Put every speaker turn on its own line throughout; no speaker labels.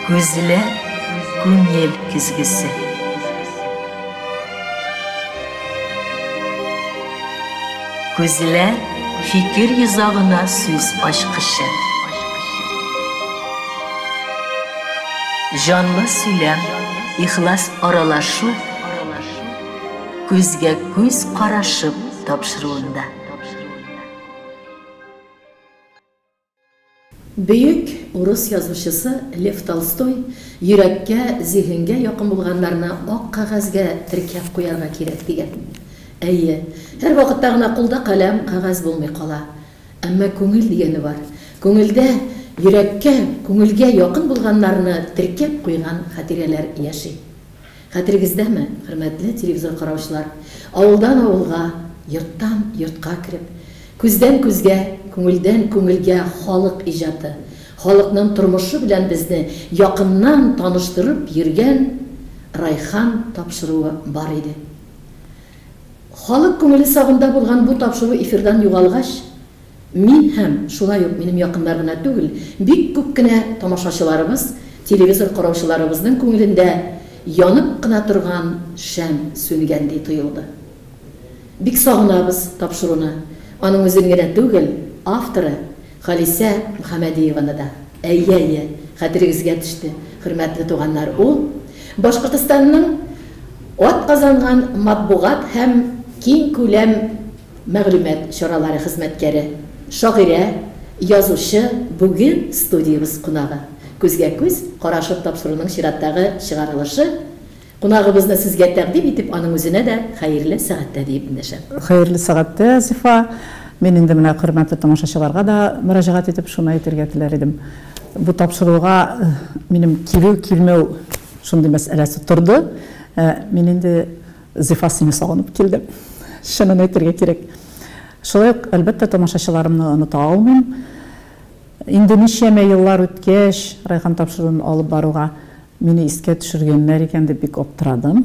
Күзләр күңел көзгесе. Күзләр фикер йозагына сүз ачкычы. Җанлы сөйләм, ихлас аралашу, күзгә күз карашып тапшыруында.
Бөек урыс язучысы Лев Толстой, Йөрәккә, зиһенгә якын булганнарны ак кәгазьгә теркәп куярга кирәк, дигән. Әйе, һәрвакытта гына кулда каләм, кәгазь булмый кала. Әмма күңел дигәне бар. Күңелдә, йөрәккә, күңелгә якын булганнарны теркәп куйган хатирәләр яши. Хәтерегездәме, хөрмәтле телевизор караучылар, авылдан авылга, йорттан йортка кереп, күздән күзгә, күңелдән күңелгә халык иҗаты, халыкның тормышы белән безне якыннан таныштырып йөргән Райхан тапшыруы бар иде. Халык күңеле сагында булган бу тапшыру эфирдан югалгач, Мин һәм, шулай ук минем якыннар гына түгел, бик күп кенә тамашачыларыбыз, телевизор караучыларыбызның күңелендә янып кына торган шәм сүнгәндәй тоелды. Бик сагынабыз тапшыруны, аның үзен генә түгел, авторы Халисә Мөхәмәдиеваны да. Әйе, әйе, хәтерегезгә төште, хөрмәтле туганнар, ул, Башкортостанның атказанган матбугат һәм киңкүләм. Мәгълүмат чаралары хезмәткәре, шагыйрә, язучы бүген студиябез кунагы. Күзгә-күз карашып тапшыруның чираттагы чыгарылышы Кунагыбызны сезгә тәкъдим итеп, аның үзенә дә хәерле сәгатьтә диеп эндәшәм. Хәерле сәгатьтә,
Зифа! Мин инде менә хөрмәтле тамашачыларга да мөрәҗәгать итеп шуны әйтергә теләр идем. Бу тапшыруга минем килү-килмәү шундый мәсьәләсе торды. Мин инде Зифа, сине сагынып килдем, чынын әйтергә кирәк. Шулай ук, әлбәттә, тамашачыларымны оныта алмыйм. Инде ничәмә еллар үткәч, райком тапшыруын алып баруга мине искә төшергәннәр икән дип бик аптырадым.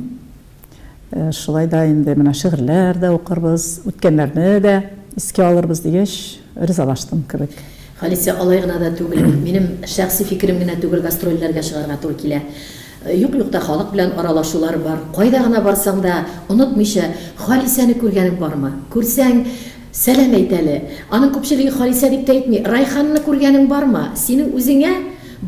Шулай да инде менә шигырьләр дә укырбыз, үткәннәрне дә искә алырбыз дигәч, ризалаштым кебек. Халисә, алай гына
да түгел, минем шәхси фикерем генә түгел, гастрольләргә чыгарга туры килә. Юк-юкта халык белән аралашулар бар. Кайда гына барсаң да, онытмыйча, Халисәне күргәнең бармы? Күрсәң, сәлам әйт әле. Аның күпчелеге Халисә дип тә әйтми. Райханны күргәнең бармы? Синең үзеңә,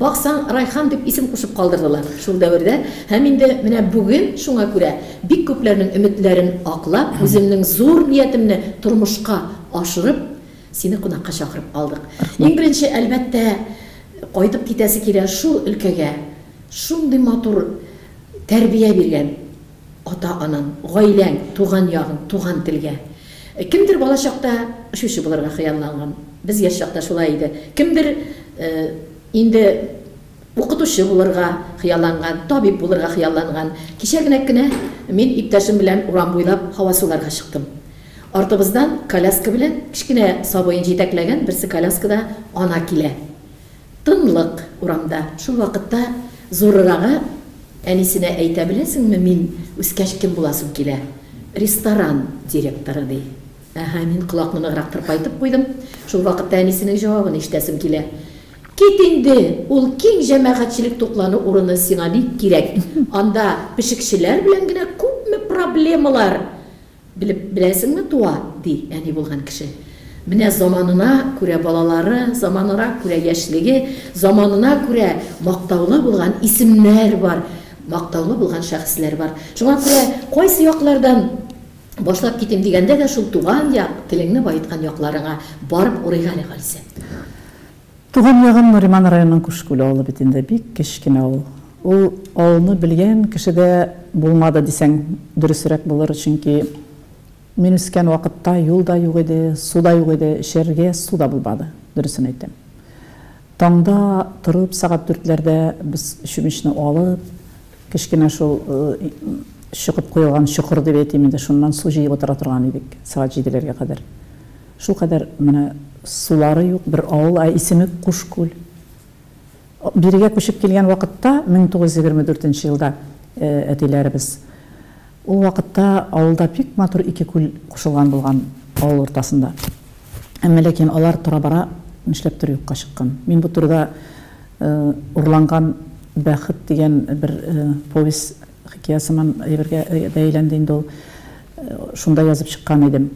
баксаң, Райхан дип исем кушып калдырдылар шул дәвердә. Һәм инде менә бүген шуңа күрә, бик күпләрнең өметләрен аклап, үземнең зур ниятемне тормышка ашырып, сине кунакка чакырып калдык. Иң беренче, әлбәттә, кайтып китәсе килә шул өлкәгә. Шундый матур тәрбия биргән ата-анаң, гаиләң, туган ягың, туган телгә. Кемдер балачакта очучы булырга хыялланган. Без яшь чакта шулай иде. Кемдер инде укытучы булырга хыялланган, табиб булырга хыялланган. Кичә генә кенә мин иптәшем белән урам буйлап һава суларга чыктым. Артыбыздан коляска белән кечкенә сабыен җитәкләгән берсе коляскада ана килә. Тынлык урамда. Шул вакытта зурырагы әнисенә әйтә, Беләсеңме, мин үскәч кем буласым килә? Ресторан директоры, ди. Әһә, мин колакны ныграк тырпайтып куйдым. Шул вакытта әнисенең җавабын ишетәсем килә, Кит инде, ул киң җәмәгатьчелек туклану урыны сиңа бик кирәк, анда пешекчеләр белән генә күпме проблемалар! Белеп беләсеңме, туа, ди әни булган кеше. Менә заманына күрә балалары, заманына күрә яшьлеге, заманына күрә мактаулы булган исемнәр бар, мактаулы булган шәхесләр бар. Шуңа күрә кайсы яклардан башлап китим дигәндә дә шул туган як, телеңне баеткан якларыңа барып урыйк әле, Халисә.
Туган ягым Нуриман районының Күшкүл авылы бит инде, бик кечкенә авыл. Ул авылны белгән кеше дә булмады дисәң, дөресрәк булыр, чөнки мин үскән вакытта юл да юк иде, су да юк иде, эчәргә су да булмады, дөресен әйтәм. Таңда торып, сәгать дүртләрдә без чүмечне алып, кечкенә шул чокып куелган чокыр дип әйтим инде, шуннан су җыеп утыра торган идек, сәгать җиделәргә кадәр. Шулкадәр менә сулары юк бер авыл, ә исеме Кушкүл. Бирегә күчеп килгән вакытта, 1924 нче елда әтиләребез, ул вакытта авылда бик матур ике күл кушылган булган авыл уртасында. Әмма ләкин алар тора-бара нишләптер юкка чыккан. Мин бу турыда Урланган бәхет дигән бер повесть, хикәя сыман әйбергә дә әйләнде инде ул, шунда язып чыккан идем.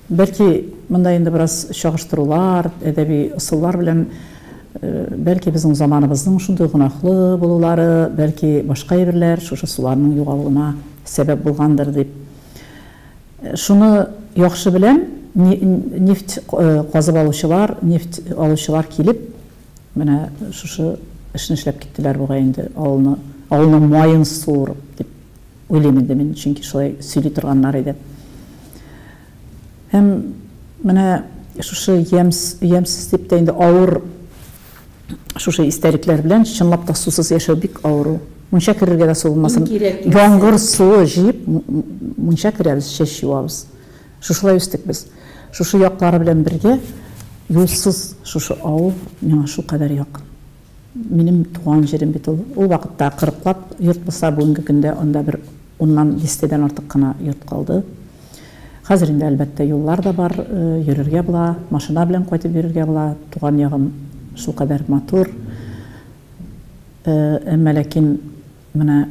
Бәлки, монда инде бераз чагыштырулар, әдәби ысуллар белән, бәлки, безнең заманыбызның шундый гөнаһлы булулары, бәлки, башка әйберләр шушы суларның югалуына сәбәп булгандыр дип. Шуны яхшы беләм, нефть казып алучылар, нефть алучылар килеп, менә шушы эшне эшләп киттеләр бугай инде, авылны, авылның маен суырып, дип Уйлыйм инде мин, чөнки шулай сөйли торганнар иде. Һәм менә шушы ямс, ямсез дип тә инде авыр шушы истәлекләр белән чынлап та сусыз яшәү бик авыр ул. Мунча керергә дә су булмасын. Яңгыр суы җыеп мунча керәбез, чәч юабыз. Шушылай үстек без. Шушы яклары белән бергә юлсыз шушы авыл миңа шулкадәр якын. Минем туган җирем бит ул. Ул вакытта кырыклап йорт булса, бүгенге көндә анда бер уннан дистәдән артык кына йорт калды. Хәзер инде, әлбәттә, юллар да бар, йөрергә була, машина белән кайтып йөрергә була. Туган ягым шулкадәр матур. Әмма ләкин менә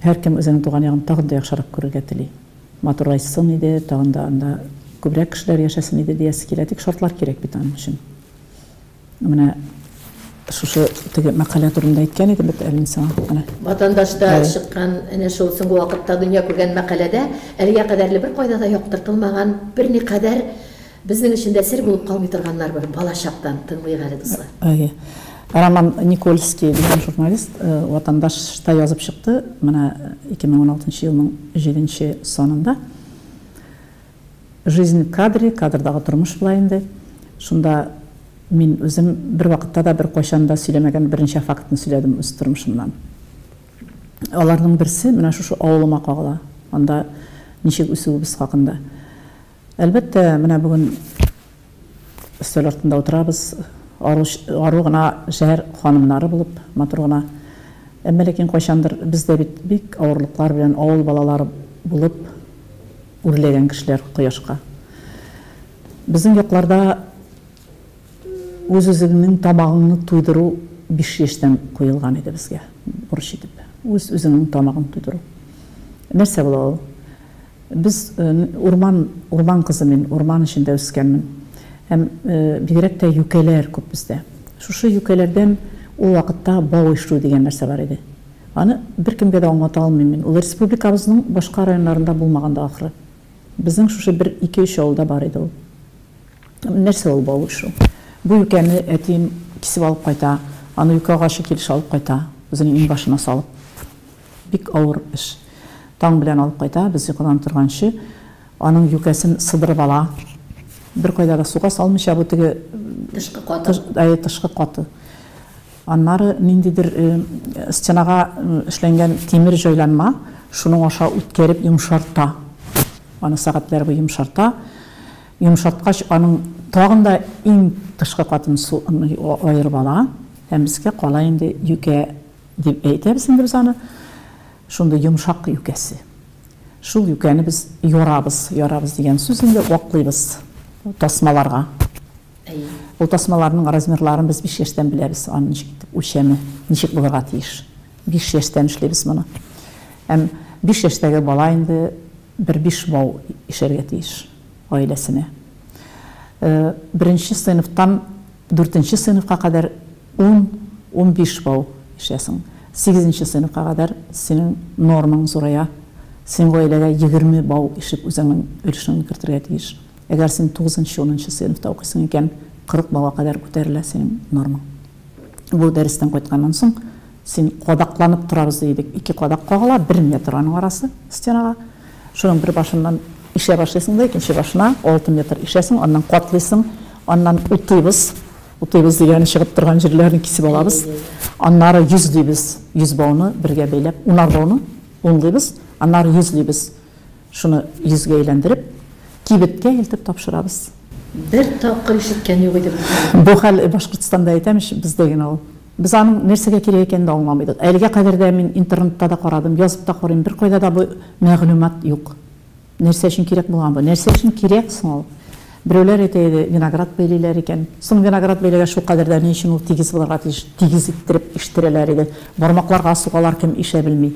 һәркем үзенең туган ягын тагын да яхшырак күрергә тели. Матурайсын иде, тагын да анда күбрәк кешеләр яшәсен иде диясе килә. Тик шартлар кирәк бит аның өчен. Менә шушы теге мәкалә турында әйткән идем бит әле мин сиңа. Менә. Ватандашта Әй.
чыккан әнә шул соңгы вакытта дөнья күргән мәкаләдә әлегә кадәрле беркайда да яктыртылмаган берникадәр безнең өчен дә сер булып калмый торганнар бар балачактан. Тыңлыйк әле, дуслар. Әйе. Роман
Никольский дигән журналист э, Ватандашта язып чыкты. Менә 2016 елның 7 санында. Жизнь в кадре, кадрдагы тормыш була инде. Шунда мин үзем бервакытта да, беркайчан да сөйләмәгән берничә фактны сөйләдем үз тормышымнан. Аларның берсе менә шушы авылыма кагыла, анда ничек үсүебез хакында. Әлбәттә, менә бүген Өстәл артында утырабыз, ару гына шәһәр ханымнары булып, матур гына. Әмма ләкин кайчандыр без дә бит бик авырлыклар белән авыл балалары булып үрләгән кешеләр кояшка. Безнең якларда үз-үзеңнең тамагыңны туйдыру биш яшьтән куелган иде безгә бурыч итеп. Үз-үзеңнең тамагыңны туйдыру. Нәрсә була ул? Без, урман, урман кызы мин, урман эчендә үскәнмен. Һәм, бигрәк тә юкәләр күп бездә. Шушы юкәләрдән ул вакытта бау ишү дигән нәрсә бар иде. Аны беркемгә дә аңлата алмыйм мин. Ул республикабызның башка районнарында булмаган да ахры. Безнең шушы бер ике-өч авылда бар иде ул. Нәрсә ул бау ишү? Бу юкәне әтием кисеп алып кайта, аны юкә агачы килеш алып кайта, үзенең иңбашына салып. Бик авыр эш. Таң белән алып кайта, без йокыдан торганчы, аның юкәсен сыдырып ала. Беркайда да суга салмыйча, бу теге, Тышкы каты. әйе, тышкы каты. Аннары ниндидер стенага эшләнгән тимер җайланма, шуның аша үткәреп йомшарта. Аны сәгатьләр буе йомшарта. Йомшарткач, аның тагын да иң тышкы катын аерып ала һәм безгә кала инде юкә. Дип әйтәбез инде без аны. Шундый йомшак юкәсе. Шул юкәне без ярабыз. Ярабыз дигән сүз инде ваклыйбыз тасмаларга. Әйе. Ул тасмаларның размерларын без биш яшьтән беләбез. Аны ничек итеп үлчәме, ничек булырга тиеш. Биш яшьтән эшлибез моны. Һәм биш яшьтәге бала инде бер биш бау ишәргә тиеш гаиләсенә. Э, беренче сыйныфтан дүртенче сыйныфка кадәр Ун, унбиш бау ишәсең. Сигезенче сыйныфка кадәр синең нормаң зурая. Син гаиләгә егерме бау ишеп үзеңнең өлешеңне кертергә тиеш. Әгәр син тугызынчы, унынчы сыйныфта укыйсың икән, кырык бауга кадәр күтәрелә синең нормаң. Бу дәрестән кайтканнан соң син кадакланып торабыз ди идек. Ике кадак кагыла, бер метр аның арасы стенага. Шуның бер башыннан ишә башлыйсың да, икенче башына алты метр ишәсең, аннан катлыйсың, аннан утыйбыз. Утыйбыз дигәне чыгып торган җирләрне кисеп алабыз. Аннары йөз дибез. Йөз бауны бергә бәйләп, унар бауны унлыйбыз, аннары йөз дибез. Шуны йөзгә әйләндереп, кибеткә илтеп тапшырабыз. Бер
тапкыр ишеткән юк идем. Бу хәл
Башкортстанда әйтәм ич, бездә генә ул. Без аның нәрсәгә кирәк икәнен дә аңламый идек. Әлегә кадәр дә мин интернетта да карадым, язып та карыйм, беркайда да бу мәгълүмат юк. Нәрсә өчен кирәк булган бу? Нәрсә өчен кирәк соң ул? Берәүләр әйтә иде, виноград бәйлиләр икән. Соң виноград бәйләгәч, шулкадәр дә ни өчен ул тигез булырга тиеш? Тигез иттереп иштерәләр иде. Бармакларга сугалар, кем ишә белми.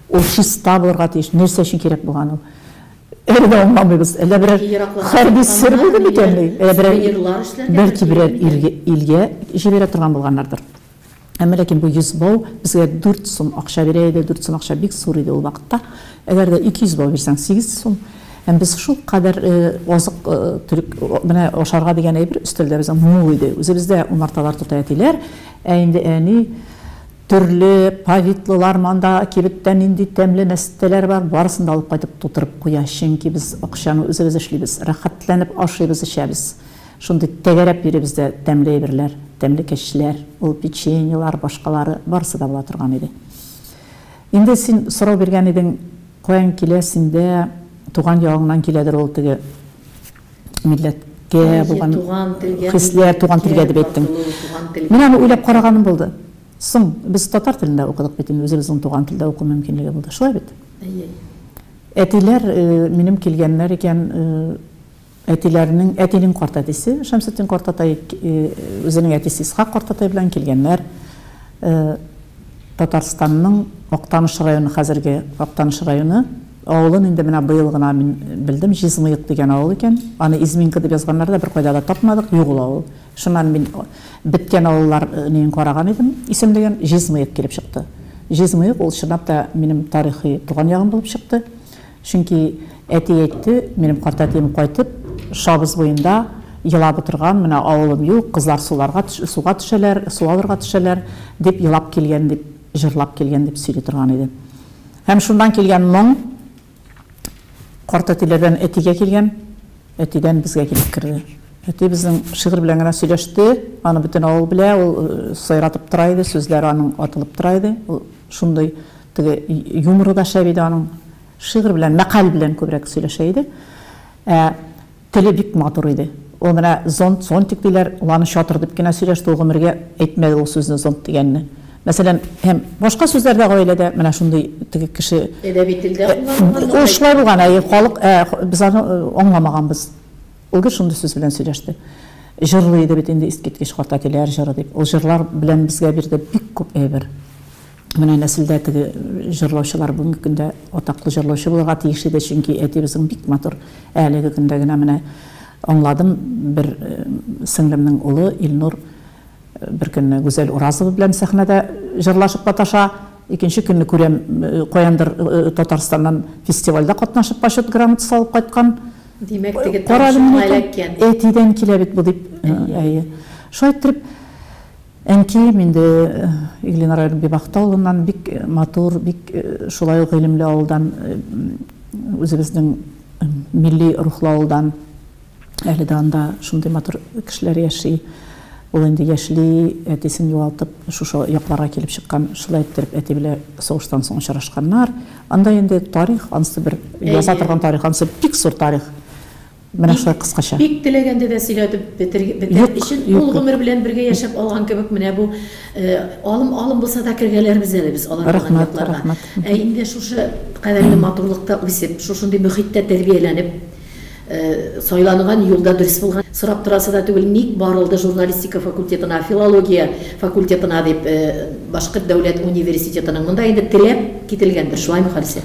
Ул чиста булырга тиеш. Нәрсә өчен кирәк булган ул? Әле дә аңламыйбыз. Әллә берәр хәрби сер булды микәнни? Әллә берәр, бәлки берәр илгә җибәрә торган булганнардыр. Әмма ләкин бу 100 бау безгә 4 сум акча бирә иде, 4 сум акча бик зур иде ул вакытта. Әгәр дә 200 бау бирсәң 8 сум. Һәм без шул кадәр азык төрек менә ашарга дигән әйбер өстәлдә безнең мул иде. Үзебездә умарталар тота әтиләр, ә инде әни төрле повидлылар, монда кибеттә нинди тәмле мәстәләр бар, барысын да алып кайтып тутырып куя, чөнки без акчаны үзебез эшлибез, рәхәтләнеп ашыйбыз, эчәбез. Шундый тәгәрәп йөри бездә тәмле әйберләр, тәмлекәчләр, ул печеньелар, башкалары, барысы да була торган иде. Инде син сорау биргән идең, каян килә синдә, туган ягыңнан киләдер ул теге милләткә Әйе, булган туган телгә, хисләр, туган телгә дип әйттең. Татылу, туган телгә. Мин аны уйлап караганым булды. Соң, без татар телендә укыдык бит инде, үзебезнең туган телдә уку мөмкинлеге булды. Шулай бит? Әйе. Әтиләр минем килгәннәр икән, Әтиләренең, әтинең картәтисе Шәмсетдин картатай, үзенең әтисе Исхак картатай белән килгәннәр. Татарстанның Актаныш районы, хәзерге Актаныш районы. Авылын инде менә быел гына мин белдем, Җизмыек дигән авыл икән. Аны Изминка дип язганнар да, беркайда да тапмадык, юк ул авыл. Шуннан мин беткән авыллар нең караган идем, исемлеген, Җизмыек килеп чыкты. Җизмыек ул чынлап та минем тарихи туган ягым булып чыкты. Чөнки әти әйтте, минем картәтием кайтып, Шабыз буенда елап утырган, менә авылым юк, кызлар суларга, суга төшәләр, су алырга төшәләр, дип елап килгән, дип, җырлап килгән, дип сөйли торган иде. Һәм шуннан килгән моң картәтиләрдән әтигә килгән, әтидән безгә килеп керде. Әти безнең шигырь белән генә сөйләште, аны бөтен авыл белә, ул сайратып тора иде, сүзләр аның атылып тора иде, ул шундый Теге юморы да шәп иде аның. Шигырь белән, мәкаль белән күбрәк сөйләшә иде. Ә теле бик матур иде. Ул менә зонт, зонтик диләр, ул аны чатыр дип кенә сөйләште, ул гомергә әйтмәде ул сүзне, зонт дигәнне. Мәсәлән, һәм башка сүзләр дә гаиләдә менә шундый теге кеше. Әдәби телдә
кулланылган. Ул шулай
булган, әйе, халык, ә без аны аңламаганбыз. Ул гел шундый сүз белән сөйләште. Җырлый иде бит инде искиткеч карт әтиләр җыры дип. Ул җырлар белән безгә бирде бик күп әйбер. Менә нәселдә теге җырлаучылар бүгенге көндә атаклы җырлаучы булырга тиеш иде, чөнки әтиебезнең бик матур. Ә әлеге көндә генә менә аңладым, бер сеңлемнең улы Илнур бер көнне Гүзәл Уразова белән сәхнәдә җырлашып маташа, икенче көнне күрәм, каяндыр Татарстаннан фестивальдә катнашып почет грамотасы алып кайткан. Димәк, теге
тавышың эләккән. Әтидән килә бит
бу, дип. Әйе. Шулай иттереп. Әнкәем инде Иглина районы Бибахта авылыннан, бик матур, бик шулай ук гыйлемле авылдан, үзебезнең милли рухлы авылдан. Әле дә анда шундый матур кешеләр яши. Ул инде яшьли, әтисен югалтып, шушы якларга килеп чыккан. Шулай иттереп, әти белән сугыштан соң очрашканнар. Анда инде тарих, ансы бер яза торган тарих, ансы бик зур тарих. Менә шулай кыскача. Бик теләгәндә дә
сөйләтеп бетер өчен ул гомер белән бергә яшәп алган кебек менә бу алым алым булса да кергәләрбез әле без алар булган якларга. Ә инде шушы кадәрле матурлыкта үсеп, шушындый мөхиттә тәрбияләнеп, сайланган юлда дөрес булган. Сорап торасы да түгел, ник барылды журналистика факультетына, филология факультетына дип Башкорт дәүләт университетының. Монда инде теләп кителгәндер, шулаймы, Халисә?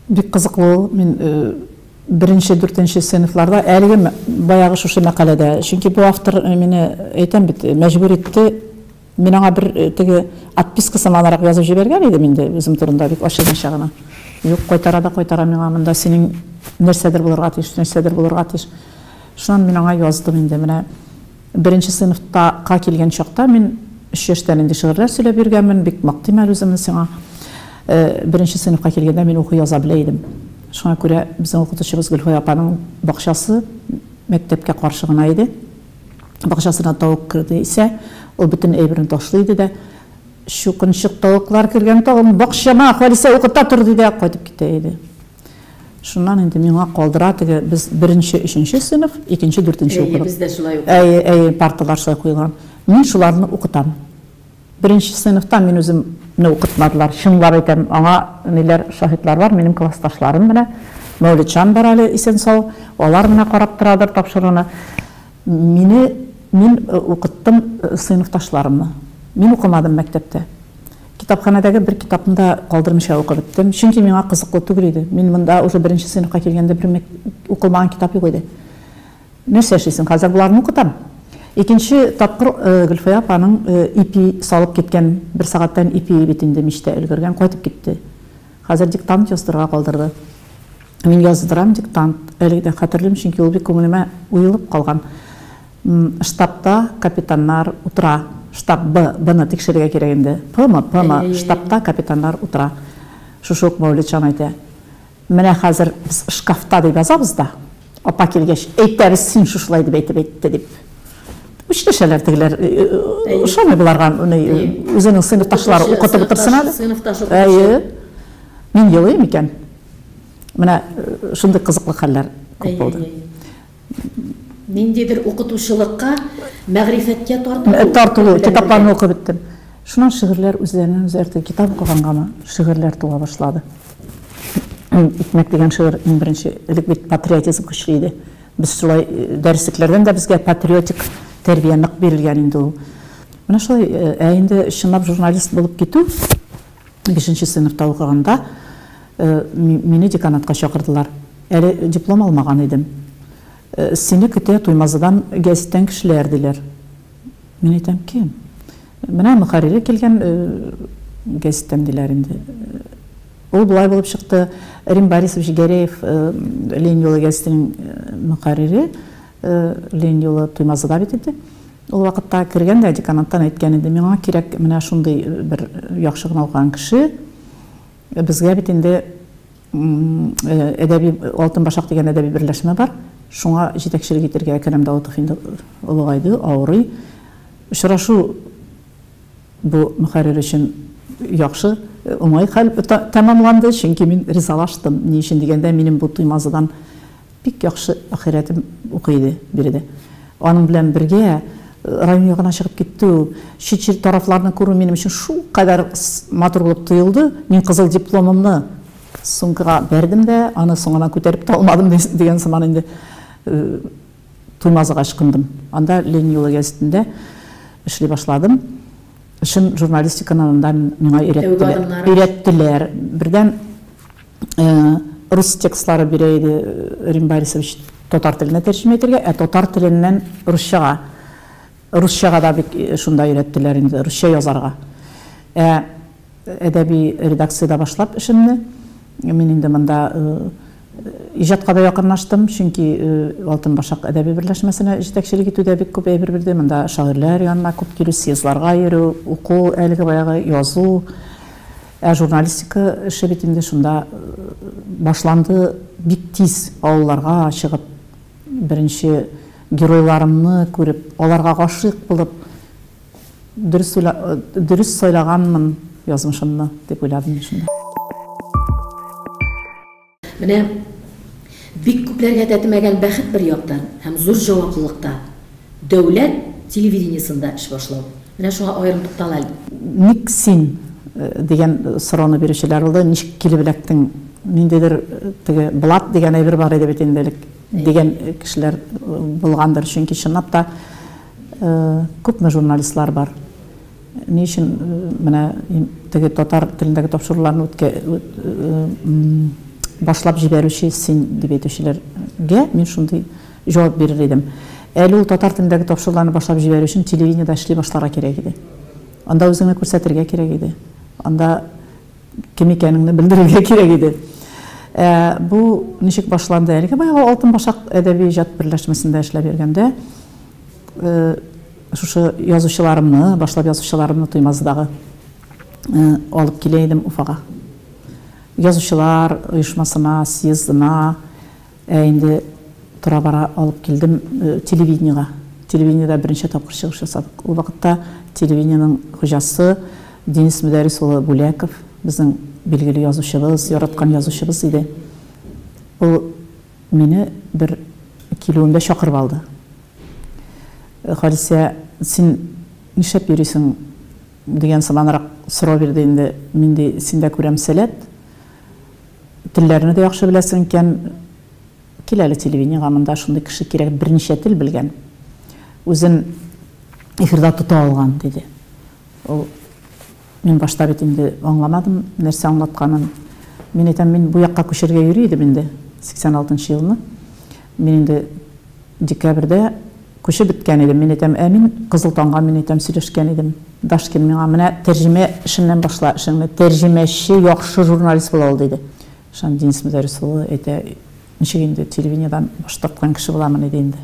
Бик кызыклы ул. Мин Беренче, дүртенче сыйныфларда, әлеге баягы шушы мәкаләдә, чөнки бу автор мине, әйтәм бит, мәҗбүр итте, мин аңа бер теге отписка сыманрак язып җибәргән идем инде үзем турында бик ачыгынча гына. Юк, кайтара да кайтара миңа, монда синең нәрсәдер булырга тиеш, нәрсәдер булырга тиеш. Шуннан мин аңа яздым инде, менә. Беренче сыйныфта ка килгән чакта мин өч яшьтән инде шигырьләр сөйләп йөргәнмен, бик мактыйм әле үземне сиңа. Беренче сыйныфка килгәндә мин укый яза белә идем. Шуңа күрә безнең укытучыбыз Гөлфая апаның бакчасы мәктәпкә каршы гына иде. Бакчасына тавык керде исә, ул бөтен әйберен ташлый иде дә, Чукынчык тавыклар кергән тагын бакчама, Халисә укыта тор, ди дә кайтып китә иде. Шуннан инде миңа калдыра теге без беренче, өченче сыйныф, икенче, дүртенче укыдык. Әйе, бездә шулай укыдык. Әйе,
әйе, парталар шулай куелган.
Мин шуларны укытам. Беренче сыйныфта мин үзем не укытмадылар. Чынлап әйтәм, аңа ниләр шаһитлар бар, минем классташларым менә Мәүлетҗан бар әле исән-сау, алар менә карап торадыр тапшыруны. Мине мин укыттым сыйныфташларымны. Мин укымадым мәктәптә. Китапханәдәге бер китапны да калдырмыйча укып беттем, чөнки миңа кызыклы түгел иде. Мин монда уже беренче сыйныфка килгәндә бер мең укылмаган китап юк иде. Нәрсә эшлисең, хәзер боларны укытам. Икенче тапкыр Гөлфая апаның ипи салып киткән, бер сәгатьтән ипие бит инде мичтә өлгергән, кайтып китте. Хәзер диктант яздырырга калдырды. Мин яздырам диктант, әле дә хәтерлим, чөнки ул бик күңелемә уелып калган. М, штабта капитаннар утыра. Штаб, Б, Бны тикшерергә кирәк инде. Пмы, Пмы, штабта капитаннар утыра. Шушы ук Мәүлетҗан әйтә. Менә хәзер без шкафта дип язабыз да, апа килгәч, әйтәбез, син шушылай дип әйтеп әйтте, дип. Үчләшәләр тегеләр. Ошамый боларга, ни, үзенең сыйныфташлары укытып утырсын әле. Сыйныфташы укытып утырсын. Әйе. Мин елыйм икән. Менә шундый кызыклы хәлләр күп булды. Ниндидер
укытучылыкка, мәгърифәткә тартылу. Э, тартылу,
китапларны укып беттем. Шуннан шигырьләр үзләреннән үзләртә китап укыгангамы, шигырьләр туа башлады. Икмәк дигән шигырь иң беренче, элек бит патриотизм көчле иде. Без шулай э, дәреслекләрдән дә безгә патриотик тәрбия нык бирелгән инде ул. Менә шулай, э, ә инде чынлап журналист булып китү, Бишенче сыйныфта укыганда, мине деканатка чакырдылар. Әле диплом алмаган идем. Сине көтә Туймазыдан гәзиттән кешеләр, диләр. Мин әйтәм, кем? Менә мөхәррире килгән гәзиттән, диләр инде. Ул болай булып чыкты, Рим Борисович Гәрәев Ленин юлы гәзитенең мөхәррире, Ленин юлы Туймазыда бит инде. Ул вакытта кергән дә деканаттан әйткән иде, миңа кирәк менә шундый бер яхшы гына укыган кеше, безгә бит инде әдәби Алтын башак дигән әдәби берләшмә бар, шуңа җитәкчелек итергә, Әкрәм Даутов инде олыгайды, авырый. Очрашу бу мөхәррир өчен яхшы, уңай хәл тәмамланды, чөнки мин ризалаштым. Ни өчен дигәндә, минем бу Туймазыдан Бик яхшы ахирәтем укый иде биредә. Аның белән бергә район ягына чыгып китү, чит-чит тарафларны күрү минем өчен шулкадәр матур булып тоелды, мин кызыл дипломымны сумкага бәрдем дә, аны соңыннан күтәреп тә алмадым дигән сыман инде Туймазыга ычкындым. Анда Ленин юлы гәзитендә эшли башладым. Эшем журналистиканы анда миңа өйрәттеләр. Өйрәттеләр. Бердән рус текстлары бирә иде Рим Борисович татар теленә тәрҗемә итәргә, ә татар теленнән русчага. Русчага да бит шунда өйрәттеләр инде, русча язарга. Ә әдәби редакциядә башлап эшемне, мин инде монда иҗатка да якынлаштым, чөнки Алтын башак әдәби берләшмәсенә җитәкчелек итүдә бик күп әйбер бирде, монда шагыйрьләр янына күп килү, съездларга йөрү, уку, әлеге баягы язу. Ә журналистика эше бит инде шунда башланды, бик тиз авылларга чыгып, беренче геройларымны күреп, аларга гашыйк булып, дөрес уйла, дөрес сайлаганмын язмышымны, дип уйладым мин шунда.
Менә бик күпләргә тәтемәгән бәхет бер яктан һәм зур җаваплылыкта, дәүләт телевидениесында эш башлау. Менә шуңа аерым туктал әле. Ник син?
дигән сорауны бирүчеләр булды. Ничек килеп эләктең? Ниндидер теге блат дигән әйбер бар иде бит инде элек, дигән кешеләр булгандыр. Чөнки чынлап та күпме журналистлар бар. Ни өчен менә теге татар телендәге тапшыруларны үткә башлап җибәрүче син дип әйтүчеләргә мин шундый җавап бирер идем. Әле ул татар телендәге тапшыруларны башлап җибәрү өчен телевидениедә эшли башларга кирәк иде. Анда үзеңне күрсәтергә кирәк иде. Анда кем икәнеңне белдерергә кирәк иде. Ә бу ничек башланды? Әлеге баягы Алтын башак әдәби иҗат берләшмәсендә эшләп йөргәндә, Шушы язучыларымны, башлап язучыларымны Туймазыдагы алып килә идем Уфага. Язучылар оешмасына, съездына, ә инде тора-бара алып килдем телевидениега. Телевидениедә беренче тапкыр чыгыш ясадык. Ул вакытта телевидениенең хуҗасы Денис Мөдәрис улы Бүләков, безнең билгеле язучыбыз, яраткан язучыбыз иде. Ул. Мине бер килүемдә чакырып алды. Халисә, син нишләп йөрисең? дигән сыманрак сорау бирде инде. Мин, ди, синдә күрәм сәләт. Телләрне дә яхшы беләсең икән. Кил әле телевидениегә, монда шундый кеше кирәк, берничә тел белгән, үзен эфирда тота алган, диде. Ул. Мин башта бит инде аңламадым, нәрсә аңлатканын. Мин әйтәм, мин бу якка күчәргә йөри идем инде, 86 нчы елны. Мин инде декабрьдә күчеп беткән идем. Мин әйтәм, ә мин Кызыл таңга, мин әйтәм, сөйләшкән идем. Дашкин миңа, менә тәрҗемә эшеннән башла эшеңне, тәрҗемәче яхшы журналист була ул, диде. Шәм Денис Мөдәрис улы әйтә, Ничек инде, телевидениедән баш тарткан кеше буламыни, ди инде.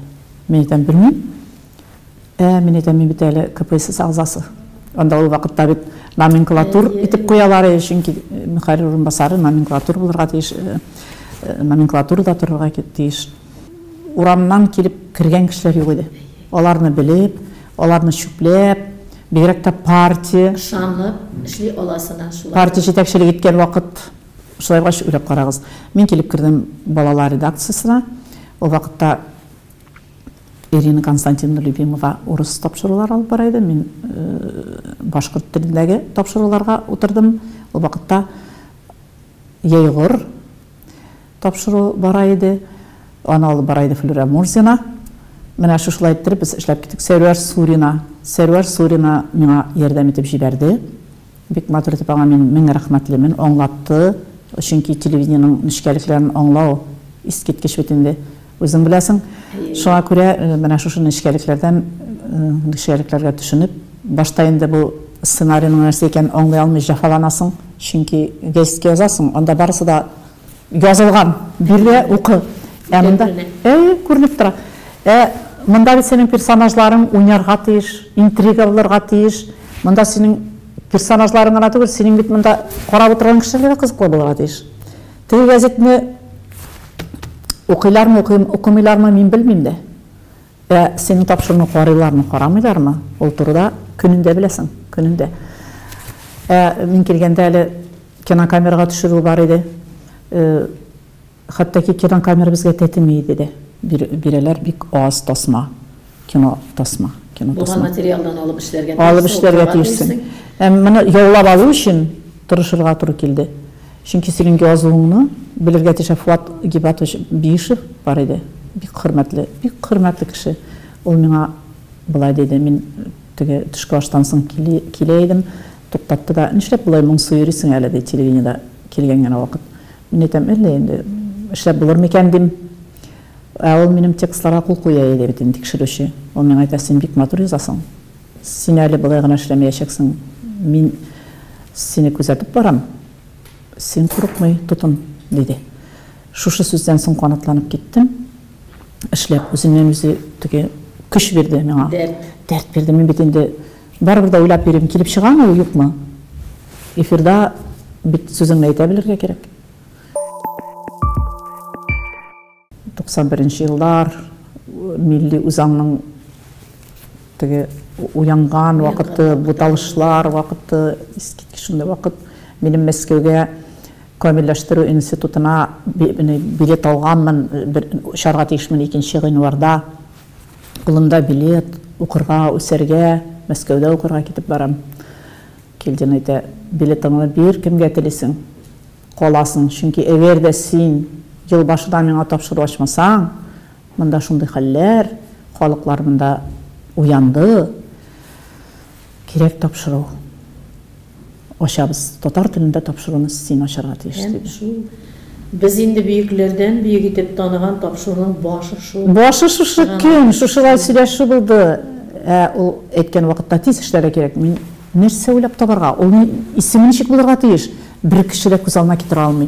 Мин әйтәм, Белмим. Ә, мин әйтәм, мин бит әле КПСС әгъзасы. Анда ул вакытта бит номенклатур итеп куялар иде, чөнки мөхәррир урынбасары номенклатур булырга тиеш, номенклатурада торырга тиеш. Урамнан килеп кергән кешеләр юк иде. Аларны белеп, аларны чүпләп, бигрәк тә партия. Ышанып
эшли аласына шулай. Партия җитәкчелек иткән
вакыт. Шулай булгач, уйлап карагыз, мин килеп кердем балалар редакциясенә, ул вакытта Ирина Константиновна Любимова урыс тапшырулар алып бара иде, мин башкорт телендәге тапшыруларга утырдым, ул вакытта Егор тапшыру бара иде, аны алып бара иде Флюра Мурзина, менә шушылай иттереп без эшләп киттек, Сәрвәр Сурина, Сәрвәр Сурина миңа ярдәм итеп җибәрде. Бик матур итеп аңа мин мең рәхмәтлемен, аңлатты, чөнки телевидениенең нечкәлекләрен аңлау искиткеч бит инде, үзең беләсең. Шуңа күрә менә шушы нечкәлекләрдән, нечкәлекләргә төшенеп, башта инде бу сценарийның нәрсә икәнен аңлый алмый җәфаланасың, чөнки гәзиткә язасың, анда барысы да, Язылган. Бирдә укы. Ә монда әй күренеп тора. Ә монда бит синең персонажларың уйнарга тиеш, интрига булырга тиеш. Монда синең персонажларың гына түгел, синең бит монда карап утырган кешеләр дә кызыклы булырга тиеш. Теге газетны укыйлармы, укымыйлармы, мин белмим дә. Ә синең тапшыруны карыйлармы, карамыйлармы, ул турыда көнендә беләсең, көнендә. Ә мин килгәндә әле Кинокамерага төшерү бар иде. Хәтта ки кинокамера безгә тәтеми иде дә. Бирәләр бик аз тасма, кино тасма. Булган материалдан
алып эшләргә тиешсең. Алып эшләргә тиешсең.
Ә моны яулап алу өчен тырышырга туры килде. Чөнки синең язуыңны белергә тиеш. Ә Фуат Гибатович Биишев бар иде. Бик хөрмәтле, бик хөрмәтле кеше. Ул миңа болай диде, мин теге төшке аштан соң килә идем. Туктатты да, Нишләп болай моңсу йөрисең әле, ди, телевидениедә килгән генә вакыт. Мин әйтәм, Әллә инде эшләп булыр микән, дим. Ә ул минем текстларга кул куя иде бит инде, тикшерүче. Ул миңа әйтә, Син бик матур язасың. Син әле болай гына эшләмәячәксең. Мин сине күзәтеп барам. Син курыкмый тотын, диде. Шушы сүздән соң канатланып киттем. Эшләп, үзеннән-үзе теге көч бирде миңа. Дәрт. Дәрт бирде. Мин бит инде Барыбер дә уйлап йөрим, килеп чыгамы ул, юкмы? Эфирда бит сүзеңне әйтә белергә кирәк. 91 нче еллар милли үзаңның теге уянган вакыты, буталышлар вакыты, искиткеч шундый вакыт. Минем Мәскәүгә камилләштерү институтына билет алганмын, бер очарга тиешмен 2 гыйнварда. Кулымда билет, укырга, үсәргә, Мәскәүдә укырга китеп барам. Кильдин әйтә, Билетыңны бир, кемгә телисең, каласың, чөнки әгәр дә син ел башыда миңа тапшыру ачмасаң, монда шундый хәлләр, халыклар монда уянды. Кирәк тапшыру. Ачабыз. Татар телендә тапшыруны син ачарга тиеш, диде. Һәм шул без
инде бөекләрдән бөек итеп таныган тапшыруның башы шул. Башы шушы көн,
шушылай сөйләшү булды. Ә ул әйткән вакытта тиз эшләргә кирәк. Мин нәрсә уйлап табарга? Ул исеме ничек булырга тиеш? Бер кеше дә күз алдына китерә алмый.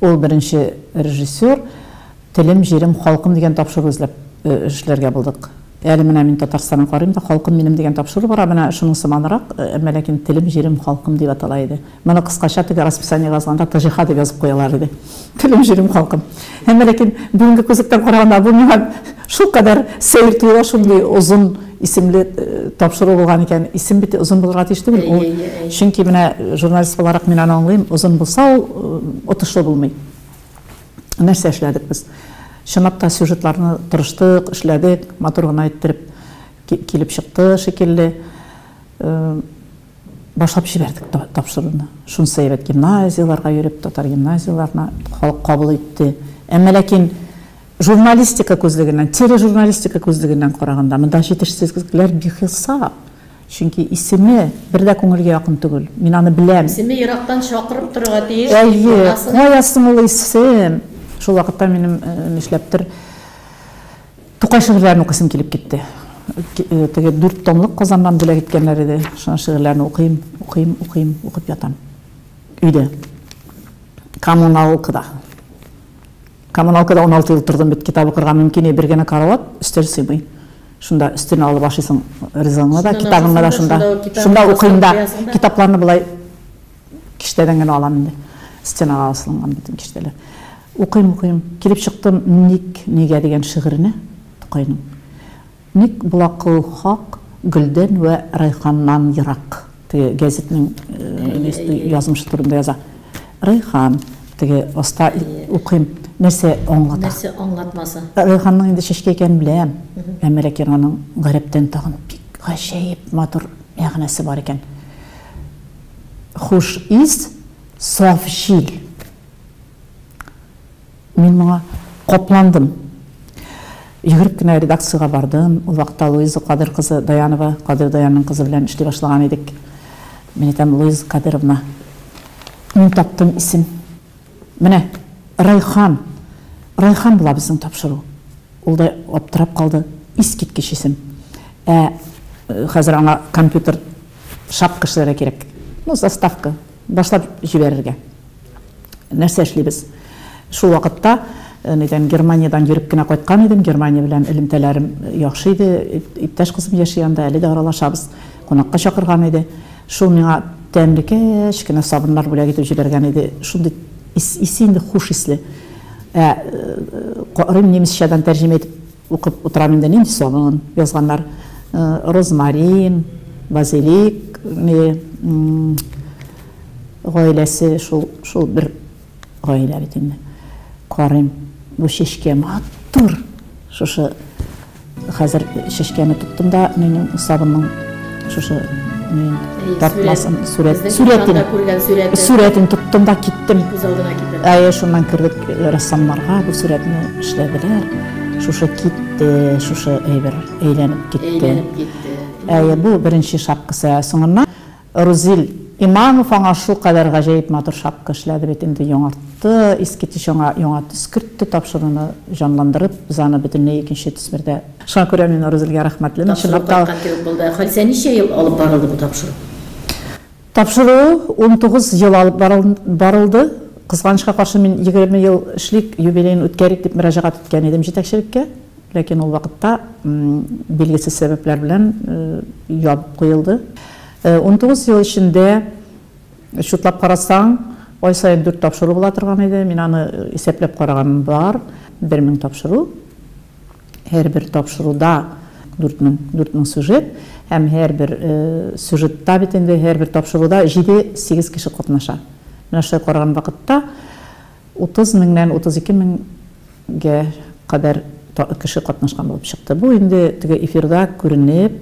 Ул беренче режиссер, Телем, җирем, халкым дигән тапшыру эзләп эшләргә булдык. Әле менә мин Татарстанын карыйм да, Халкым минем дигән тапшыру бара, менә шуның сыманрак, әмма ләкин Телем, җирем, халкым дип атала иде. Моны кыскача теге расписаниега язганда ТЖХ дип язып куялар иде. Телем, җирем, халкым. Әмма ләкин бүгенге күзлектән караганда бу миңа шулкадәр сәер тоела, шундый озын исемле тапшыру булган икән. Исем бит озын булырга тиеш түгел. Ул чөнки менә журналист буларак мин аны аңлыйм, озын булса ул отышлы булмый. Нәрсә эшләдек без? Чынлап та сюжетларны тырыштык, эшләдек, матур гына иттереп килеп чыкты шикелле. Башлап җибәрдек тапшыруны. Шунысы әйбәт, гимназияләргә йөреп, татар гимназияләренә халык кабул итте. Әмма ләкин Журналистика күзлегеннән, тележурналистика күзлегеннән караганда, монда җитешсезлекләр бихисап. Чөнки исеме бер дә күңелгә якын түгел. Мин аны беләм. Исеме ерактан чакырып
торырга тиеш, дип Әйе, уйласаң. кая соң
ул исем? Шул вакытта минем нишләптер Тукай шигырьләрен укыйсым килеп китте. Теге дүрт томлык Казаннан бүләк иткәннәр иде. Шуның шигырьләрен укыйм, укыйм, укыйм, укып ятам. Өйдә. Коммуналкада. Коммуналкада уналты ел тордым бит, китап укырга мөмкин, бер генә карават, өстәл сыймый. Шунда өстәлне алып ашыйсың ризыгыңны да, китабыңны да шунда. Шунда укыйм да. Китапларны болай киштәдән генә алам инде. Стенага асылган бит киштәләр. Укыйм, укыйм. Килеп чыктым Ник, нигә дигән шигыренә Тукайның. Ник була кылу хак Гөлдән вә Райханнан ерак? Теге гәзитнең язмышы турында яза. Райхан, теге аста укыйм, нәрсә аңлата? Нәрсә аңлатмасы?
Райханның инде чәчкә
икәнен беләм, әмма ләкин аның гарәптән тагын бик гаҗәеп матур мәгънәсе бар икән. Хуш ис, саф җил. Мин моңа капландым. Йөгереп кенә редакциягә бардым. Ул вакытта Луиза Кадер кызы Даянова, Кадер Даянның кызы белән эшли башлаган идек. Мин әйтәм, Луиза Кадеровна, мин таптым исем. Менә Райхан, Райхан була безнең тапшыру. Ул да аптырап калды. Искиткеч исем. Ә хәзер аңа компьютер шак кешеләре кирәк. Ну, заставка, башлап җибәрергә. Нәрсә эшлибез? Шул вакытта нидән Германиядән йөреп кенә кайткан идем. Германия белән элемтәләрем яхшы иде. Иптәш кызым яши анда, әле дә аралашабыз. Кунакка чакырган иде. Шул миңа тәмле кечкенә сабыннар бүләк итеп җибәргән иде. Шундый исе инде хуш исле. Ә карыйм немецчадан тәрҗемә итеп Укып утырам инде, нинди сабын язганнар. Розмарин, базилик, гаиләсе шул, шул бер гаилә бит инде. Карыйм, бу чәчкә матур. Шушы хәзер чәчкәне тоттым да, минем сабынның Шушы мин тартмасын сүрәт сүрәтен сүрәтен тоттым да киттем. Күз алдына китердем. Әйе, шуннан кердек э, рәссамнарга бу сүрәтне эшләделәр. Шушы китте, шушы әйбер әйләнеп китте. Әйләнеп китте. Әйе, бу беренче шапкасы. Ә соңыннан Рузил Имамов аңа шул кадәр гаҗәеп матур шапка эшләде бит инде яңартты, иске төс аңа яңа төс кертте, тапшыруны җанландырып, без аны бөтенләй икенче төс бердә Шуңа күрә мин Нурзилгә рәхмәтле. Мин Тапшыру чынлап та кайткан кебек булды. Ә
Хәлсә ничә ел алып барылды бу тапшыру?
Тапшыру 19 ел алып барыл, барылды. Кызганычка каршы, мин 20 ел эшлик, юбилеен үткәрик дип мөрәҗәгать иткән идем җитәкчелеккә. Ләкин ул вакытта м, билгесез сәбәпләр белән э, ябып куелды. Э, 19 ел эчендә чутлап карасаң, ай саен 4 тапшыру була торган иде. Мин аны э, исәпләп караганым бар. 1000 тапшыру. Һәрбер тапшыруда дүрт мең, дүрт мең сюжет һәм һәрбер сюжетта бит инде һәрбер тапшыруда җиде, сигез кеше катнаша. Менә шулай караган вакытта утыз меңнән утыз ике меңгә кадәр кеше катнашкан булып чыкты. Бу инде теге эфирда күренеп,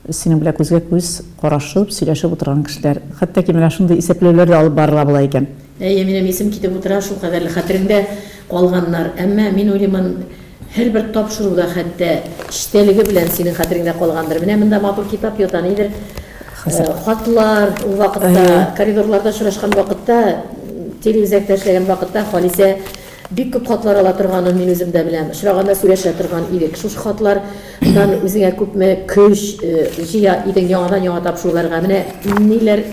Синең белән күзгә-күз карашып, сөйләшеп утырган кешеләр. Хәтта ки менә шундый исәпләүләр дә алып барыла була икән. Әйе, минем исем китеп
утыра, шул кадәрле хәтереңдә калганнар. Әмма мин уйлыймын, һәрбер тапшыру да хәтта эчтәлеге белән синең хәтереңдә калгандыр. Менә монда матур китап ята, нидер хатлар, ул вакытта коридорларда очрашкан вакытта, телеүзәктә эшләгән вакытта Халисә Бик күп хатлар ала торганын мин үзем дә беләм. Очраганда сөйләшә торган идек. Шушы хатлар нан үзеңә күпме көч җыя идең яңадан-яңа тапшыруларга? Менә ниләр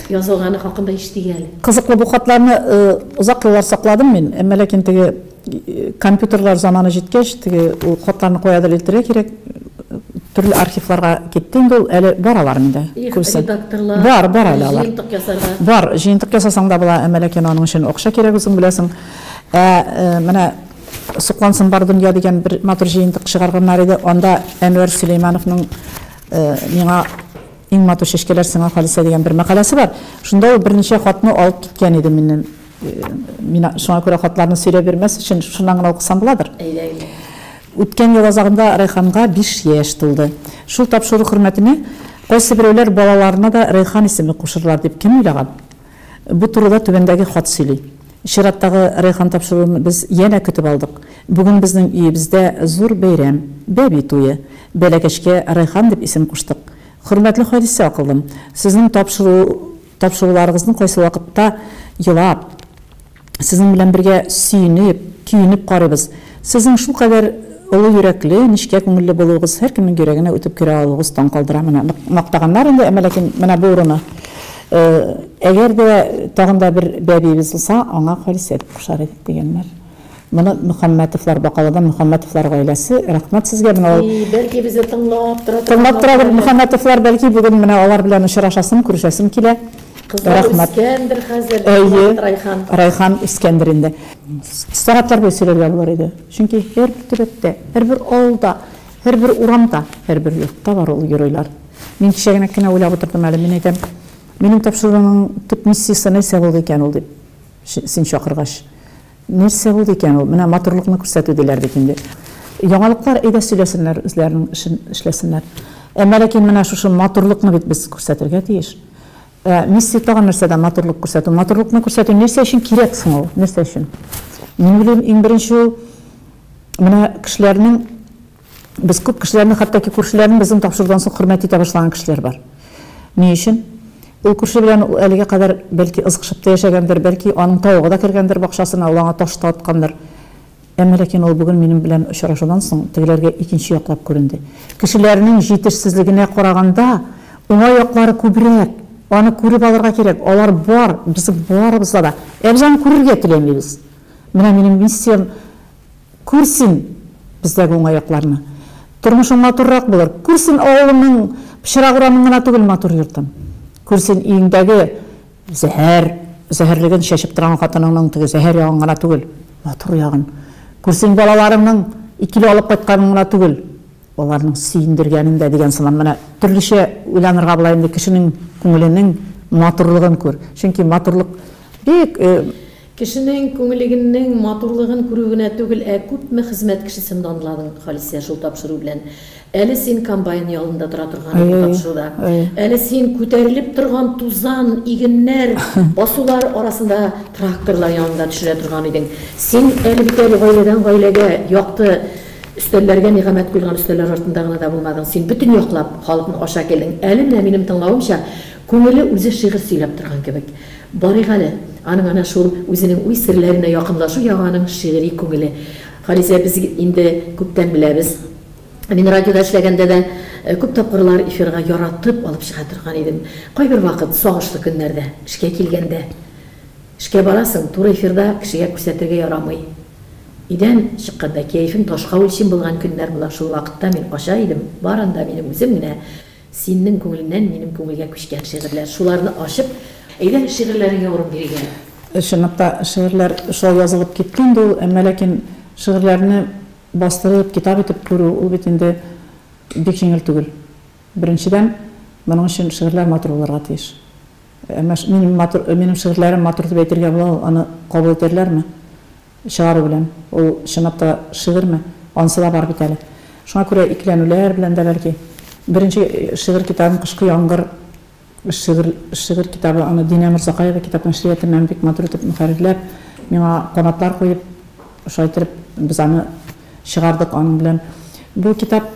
язылганы хакында ишетик әле. Кызыклы бу хатларны
озак еллар сакладым мин, әмма ләкин теге компьютерлар заманы җиткәч, теге ул хатларны кая дәлилтерә кирәк, Төрле архивларга китте инде ул, әле бар алар миндә күбесе.
Бар, бар әле алар.
Җыентык ясарга. Бар, җыентык ясасаң да була, әмма ләкин аның өчен акча кирәк, үзең беләсең. Ә менә Соклансын бар дөнья дигән бер матур җыентык чыгарганнар иде, анда Әнвәр Сөләймановның Миңа иң матур чәчкәләр сиңа, Халисә, дигән бер мәкаләсе бар. Шунда ул берничә хатны алып киткән иде миннән. Мин шуңа күрә хатларны сөйләп бирмәс өчен шуннан гына укысам буладыр. Әйдә, әйдә. Үткән ел азагында Райханга биш яшь тулды. Шул тапшыру хөрмәтенә кайсы берәүләр балаларына да Райхан исеме кушырлар дип кем уйлаган? Бу турыда түбәндәге хат сөйли. Чираттагы Райхан тапшыруын без янә көтеп алдык. Бүген безнең өебездә зур бәйрәм, бәби туе. Бәләкәчкә Райхан дип исем куштык. Хөрмәтле Халисә акыллым, сезнең тапшыру. Тапшыруларыгызны кайсы вакытта елап, сезнең белән бергә сөенеп, көенеп карыйбыз. Сезнең шулкадәр олы йөрәкле, нечкә күңелле булуыгыз, һәркемнең йөрәгенә үтеп керә алуыгыз таң калдыра. Менә нык мактаганнар инде, әмма ләкин менә бу урыны. Әгәр дә тагын да бер бәбиебез булса, аңа Халисә дип кушар идек, дигәннәр. Моны Мөхәммәтовлар Бакаладан Мөхәммәтовлар гаиләсе, рәхмәт сезгә менә ул. И, бәлки безне тыңлап
тора. Тыңлап торадыр
Мөхәммәтовлар, бәлки бүген менә алар белән очрашасым, күрешәсем килә. Кызлар үскәндер
хәзер, Райхан. Райхан үскәндер
инде. Сәгатьләр буе сөйләргә булыр иде. Чөнки һәрбер төбәктә, һәрбер авылда, һәрбер урамда, һәрбер йортта бар ул геройлар. Мин кичә генә кенә уйлап утырдым әле, мин әйтәм, минем тапшыруның төп миссиясе нәрсә булды икән ул дип, син чакыргач. Нәрсә булды икән ул? Менә матурлыкны күрсәтү диләр бит инде. Яңалыклар, әйдә сөйләсеннәр, үзләренең эшен эшләсеннәр. Әмма ләкин менә шушы матурлыкны бит без күрсәтергә тиеш. Ә миссия тагын нәрсәдә матурлык күрсәтү? Матурлыкны күрсәтү нәрсә өчен кирәк соң ул? Нәрсә өчен? Мин уйлыйм, иң беренче ул менә кешеләрнең Без күп кешеләрне, хәтта ки күршеләрнең безнең тапшырудан соң хөрмәт итә башлаган кешеләр бар. Ни өчен? Ул күрше белән ул әлегә кадәр бәлки ызгышып та яшәгәндер, бәлки аның тавыгы да кергәндер бакчасына, ул аңа таш та аткандыр. Әмма ләкин ул бүген минем белән очрашудан соң тегеләргә икенче яклап күренде. Кешеләрнең җитешсезлегенә караганда, уңай яклары күбрәк. Аны күреп алырга кирәк. Алар бар, безнең барыбызда да. Ә без аны күрергә теләмибез. Менә минем миссиям. Күр син бездәге уңайлыкларны. Тормышың матуррак булыр. Күр син авылыңның пычрак урамын гына түгел, матур йортын. Күр син өеңдәге зәһәр зәһәрлеген чәчеп торган хатыныңның теге зәһәр ягын гына түгел, матур ягын. Күр син балаларыңның икеле алып кайтканын гына түгел, аларның сөендергәнен дә, дигән сыман, менә төрлечә уйланырга була инде, кешенең күңеленең матурлыгын күр. Чөнки матурлык бик Кешенең
күңелегеннең матурлыгын күрү генә түгел, ә күпме хезмәт кешесен данладың, Халисә, шул тапшыру белән. Әле син комбайн ялында тора торган идең тапшыруда. Әле син күтәрелеп торган тузан, игеннәр, басулар арасында тракторлар янында төшерә торган идең. Син әле бит әле гаиләдән гаиләгә, якты өстәлләргә нигамәт куелган өстәлләр артында гына да булмадың. Син бөтен яклап халыкны ача килдең. Әле менә минем тыңлавымча, Күңеле үзе шигырь сөйләп торган кебек. Барыйк әле, аның ана шул үзенең уй серләренә якынлашу ягы аның шигъри күңеле. Халисә, без инде күптән беләбез. Мин радиода эшләгәндә дә күп тапкырлар эфирга яратып алып чыга торган идем. Кайбер вакыт, сагышлы көннәрдә, эшкә килгәндә. Эшкә барасың, туры эфирда кешегә күрсәтергә ярамый. Өйдән чыкканда кәефен ташка үлчим булган көннәр була, шул вакытта мин кача идем, барында минем үзем генә Синнең күңелеңнән минем күңелгә күчкән шигырьләр, шуларны ачып, әйдә шигырьләреңә урын биргәлә. Чынлап та,
шигырьләр шулай язылып киткән инде ул, әмма ләкин шигырьләрне бастырып, китап итеп күрү, ул бит инде бик җиңел түгел. Беренчедән, моның өчен шигырьләр матур булырга тиеш. Әмма минем матур, минем шигырьләрем матур дип әйтергә була, ул аны кабул итәрләрме? Чыгару белән. Ул, чынлап та, шигырьме? Анысы да бар бит әле. Шуңа күрә икеләнүләр белән дә, бәлки. Беренче шигырь китабым Кышкы яңгыр шигырь шигырь китабы, аны Динә Морзакаева китап нәшриятыннан бик матур итеп мөхәррирләп, миңа канатлар куеп, шулай иттереп, без аны чыгардык аның белән. Бу китап.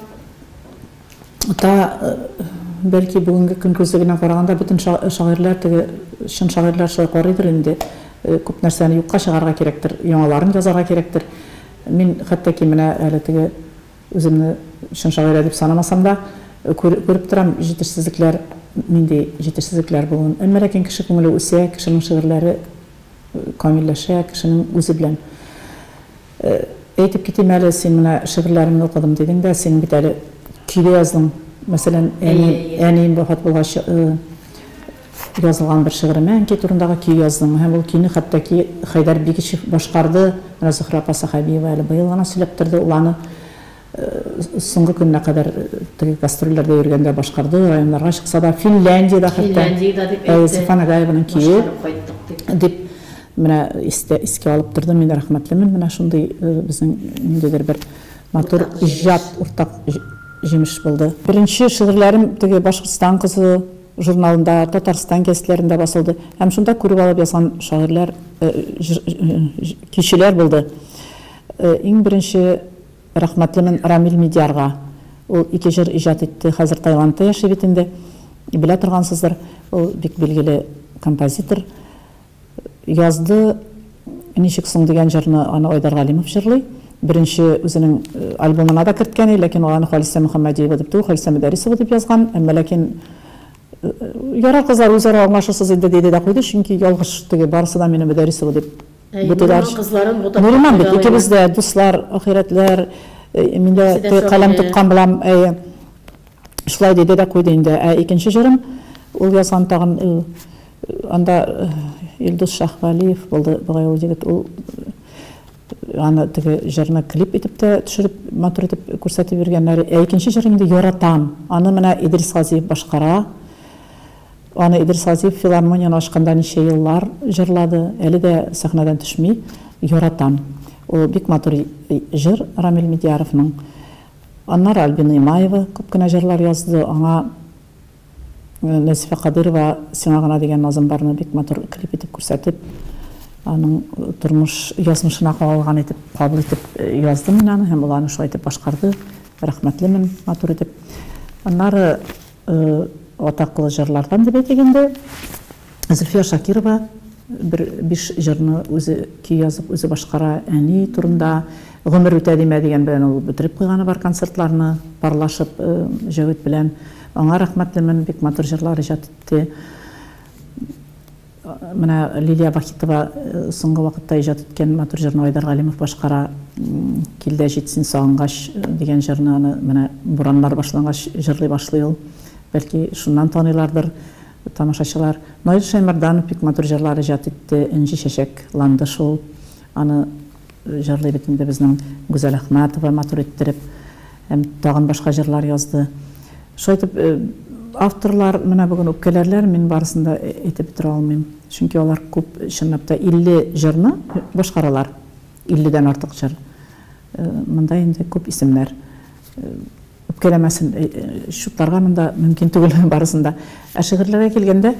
Та, бәлки, бүгенге көн күзе белән караганда бөтен шагыйрьләр теге чын шагыйрьләр шулай карыйдыр инде, күп нәрсәне юкка чыгарырга кирәктер, яңаларын язарга кирәктер. Мин хәтта ки менә әле теге үземне чын шагыйрә дип санамасам да, күреп торам, җитешсезлекләр, нинди җитешсезлекләр булуын. Әмма ләкин кеше күңеле үсә, кешенең шигырьләре камилләшә, кешенең үзе белән Әйтеп китим әле, син менә шигырьләремне укыдым дидең дә, син бит әле көйле яздың. Мәсәлән, әни, әнием вафат булгач, язылган бер шигыремә әнкәй турындагы көй яздым. Һәм ул көйне хәтта-ки Хәйдәр Бигичев башкарды. Менә Зөһрә апа Сәхәбиева әле быел гына сөйләп торды, ул аны Соңгы көненә кадәр теге гастрольләрдә йөргәндә башкарды, районнарга чыкса да, Финляндиядә хәтта Сафа Нагаеваның көе дип менә искә алып торды. Мин рәхмәтлемен менә шундый безнең ниндидер бер матур иҗат, уртак җимеш булды. Беренче шигырьләрем теге Башкортстан кызы журналында, Татарстан гәзитләрендә басылды һәм шунда күреп алып язган шагыйрьләр, кичүләр булды. Иң беренче Рәхмәтлемен Рамил Мидиярга. Ул ике җыр иҗат итте, хәзер Таиландта яши бит инде. Белә торгансыздыр, ул бик билгеле композитор. Язды Ничек соң дигән җырны аны Айдар Галимов җырлый. Беренче үзенең альбомына да керткән иде, ләкин ул аны Халисә Мөхәммәдиева дип түгел, Халисә Мөдәрисова дип язган. Әмма ләкин Ярар, кызлар, үзара аңлашырсыз инде, диде дә куйды, чөнки ялгыш теге, барысы да мине Мөдәрисова дип Бу диләр. Нуриман бит, икебез дә дуслар, ахирәтләр. Мин дә каләм тоткан булам, әйе. Шулай диде дә куйды инде. Ә икенче җырым, ул язган тагын анда Илдус Шаһвәлиев булды, бугай ул егет. Ул аны теге җырны клип итеп тә төшереп, матур итеп күрсәтеп йөргәннәр. Ә икенче җыр инде Яратам. Аны менә Идрис Газиев башкара. Аны Идрис Газиев филармонияне ачканда ничә еллар җырлады, әле дә сәхнәдән төшми, яратам. Ул бик матур җыр Рамил Медиаровның. Аннары Альбина Имаева күп кенә җырлар язды, аңа Нәзифә Кадыйрова Сиңа гына дигән назым барны бик матур клип итеп күрсәтеп, аның тормыш язмышына кагылган итеп, кабул итеп яздым мин аны һәм ул аны шулай итеп башкарды, рәхмәтлемен матур итеп. Аннары. Атаклы җырлардан дип әйтик инде. Зөлфия Шакирова бер биш җырны үзе көй язып, үзе башкара. Әни турында Гомер үтә димә дигән белән ул бетереп куйганы бар концертларны, парлашып Җәвит белән. Аңа рәхмәтлемен, бик матур җырлар иҗат итте. Менә Лилия Вахитова соңгы вакытта иҗат иткән матур җырны Айдар Галимов башкара. Кил дә җит син сагынгач дигән җырны аны менә бураннар башлангач җырлый башлый ул. Бәлки шуннан таныйлардыр тамашачылар. Наил Шәймәрданов бик матур җырлар иҗат итте, Энҗе чәчәк ланды шул. Аны. Җырлый бит инде безнең Гүзәл Әхмәтова матур иттереп. Һәм тагын башка җырлар язды. Шулай итеп, авторлар менә бүген үпкәләрләр, мин барысын да әйтеп бетерә алмыйм. Чөнки алар күп, чынлап та, 50 җырны башкаралар. 50 дән артык җыр. Монда инде күп исемнәр. Үпкәләмәсен, чутларга монда мөмкин түгел барысын да. Ә шигырьләргә килгәндә.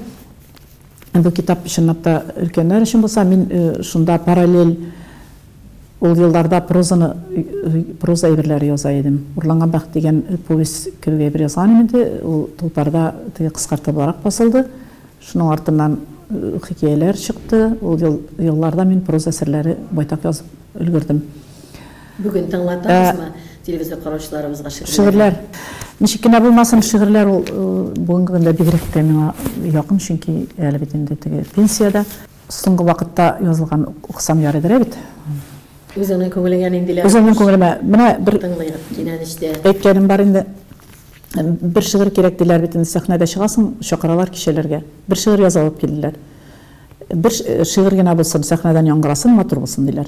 Бу китап чынлап та өлкәннәр өчен булса, мин шунда параллель ул елларда прозаны, проза әйберләре яза идем. Урланган бәхет дигән повесть кебек әйбер язган идем инде, ул Тулпарда теге кыскартылыбрак басылды. Шуның артыннан хикәяләр чыкты, ул елларда мин проза әсәрләре байтак язып өлгердем. Бүген
тыңлатабызмы телевизор караучыларыбызга шигырьләрен? Шигырьләр.
Ничек кенә булмасын, шигырьләр ул бүгенге көндә бигрәк тә миңа якын, чөнки әле бит инде теге пенсиядә. Соңгы вакытта язылган укысам ярыйдыр ә бит. Үзеңнең
күңелеңә ниндиләр? Үземнең күңелемә. Менә
бер Тыңлыйк, кинәнештә.
Әйткәнем бар инде.
Бер шигырь кирәк диләр бит инде, сәхнәдә чыгасың, чакыралар кичәләргә. Бер шигырь язып алып килделәр. Бер шигырь генә булсын, сәхнәдән яңгырасын, матур булсын, диләр.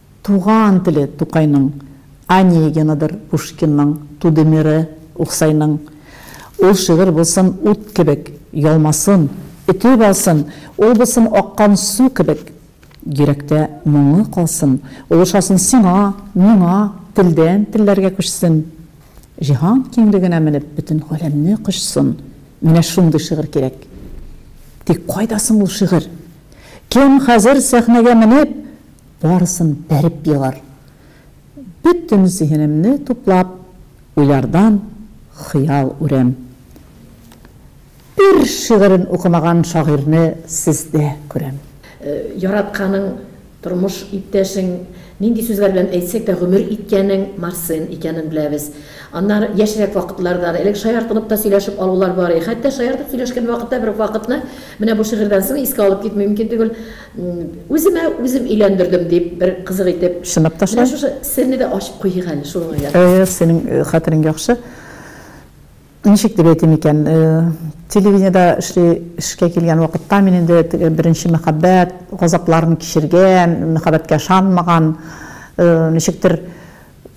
Туган теле Тукайның, Онегинадыр Пушкинның, Тудемире Уксайның. Ул шигырь булсын ут кебек, ялмасын, өтеп алсын, ул булсын аккан су кебек. Йөрәктә моңы калсын, ул ошасын сиңа, миңа, телдән телләргә күчсен. Җиһан киңлегенә менеп, бөтен галәмне кочсын. Менә шундый шигырь кирәк. Тик кайда соң ул шигырь? Кем хәзер сәхнәгә менеп, Барысын бәреп егар. Бөтен зиһенемне туплап, уйлардан хыял үрәм. Бер шигырен укымаган шагыйрьне сездә күрәм. Яратканың,
тормыш иптәшең, нинди сүзләр белән әйтсәк тә гомер иткәнең Марсен икәнен беләбез. Аннары яшьрәк вакытларда да, элек шаяртылып та сөйләшеп алулар бар иде. Хәтта шаяртып сөйләшкән вакытта бер вакытны, менә бу шигырьдән соң искә алып китми мөмкин түгел. Үземә үзем өйләндердем, дип, бер кызык итеп. Сынап ташла. Менә шушы
серне дә ачып
куйыйк әле, шуның уйлап. Әгәр синең хәтерең
яхшы, ничек дип әйтим икән, телевидениедә эшли, эшкә килгән вакытта мин инде теге беренче мәхәббәт газапларын кичергән, мәхәббәткә ышанмаган, ничектер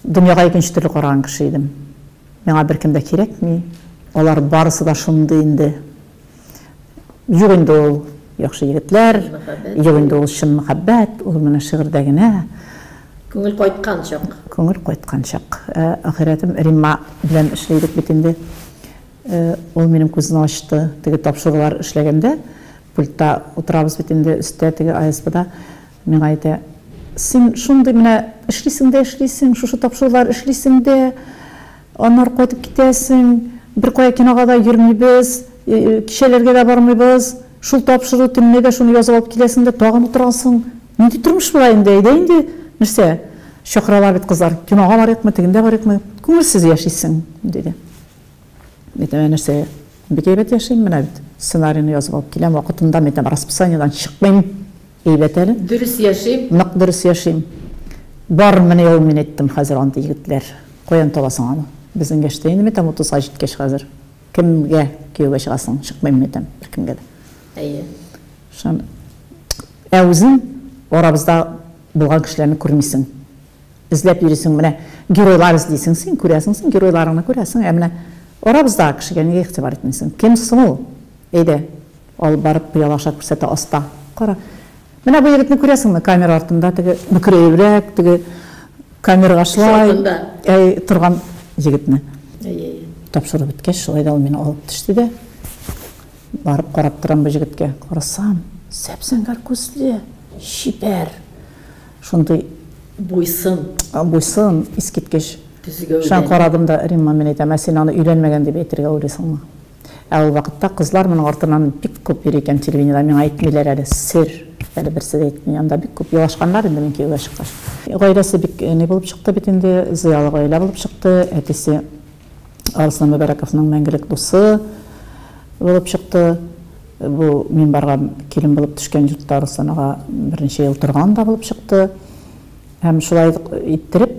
дөньяга икенче төрле караган кеше идем. Миңа беркем дә кирәкми, алар барысы да шундый инде. Юк инде ул яхшы егетләр, юк инде ул чын мәхәббәт, ул менә шигырьдә генә. Күңел
кайткан чак. Күңел кайткан чак.
Э, ахиратым Римма белән эшләйдек бит инде. Э, ул минем күзне ачты. Теге тапшырулар эшләгәндә пультта утырабыз бит инде өстә теге АСБда. Миңа әйтә, Син шундый менә эшлисең дә эшлисең, шушы тапшырулар эшлисең дә, аннары кайтып китәсең, беркая кинога да йөрмибез, кичәләргә дә бармыйбыз, шул тапшыру төнлә дә шуны язып алып киләсең дә тагын утырасың. Нинди тормыш болай инде, әйдә инде, нәрсә, чакыралар бит кызлар, кинога барыйкмы, тегендә барыйкмы, күңелсез яшисең, диде. Әйтәм, Ә нәрсә, бик әйбәт яшим, менә бит сценарийны язып алып киләм, вакытында, әйтәм, расписаниедән чыкмыйм. Әйбәт әле. Дөрес яшим. Нык
дөрес яшим.
Барын менә ул мин әйттем хәзер андый егетләр. Каян табасың аны? Безнең яшьтә инде мәйтәм утызга җиткәч хәзер. Кемгә кияүгә чыгасың? Чыкмыйм мәйтәм беркемгә дә. Әйе.
Шун.
Ә үзең арабызда булган кешеләрне күрмисең. Эзләп йөрисең менә геройлар эзлисең син, күрәсең син геройларыңны күрәсең, ә менә арабызда кешегә нигә игътибар итмисең? Кем соң ул? Әйдә. Алып барып, пыялаша күрсәтә аста. Кара. Менә бу егетне күрәсеңме, камера артында, теге бөкрәебрәк, теге камергашлай, әй, торган егетне? Әй, әй. Тапшыру беткәч, шулай да ул мине алып төште дә. Барып карап торам бу егеткә. Карасам, зәп-зәңгәр күзле, чибәр. Шундый. Буйсын. Буйсын, искиткеч. Төзегәүдән. Шуңа карадым да, Римма, мин әйтәм, ә син аны өйләнмәгән дип әйтергә уйлыйсыңмы? Ә ул вакытта кызлар моның артыннан бик күп йөри икән телевидениедә, миңа әйтмиләр әле, сер, әле берсе дә әйтми, анда бик күп елашканнар инде мин кияүгә чыккач. Гаиләсе бик ни булып чыкты бит инде, зыялы гаилә булып чыкты, әтисе Арыслан Мөбәрәковның мәңгелек дусы булып чыкты, бу мин барган килен булып төшкән йортта Арыслан ага берничә ел торган да булып чыкты һәм шулай иттереп,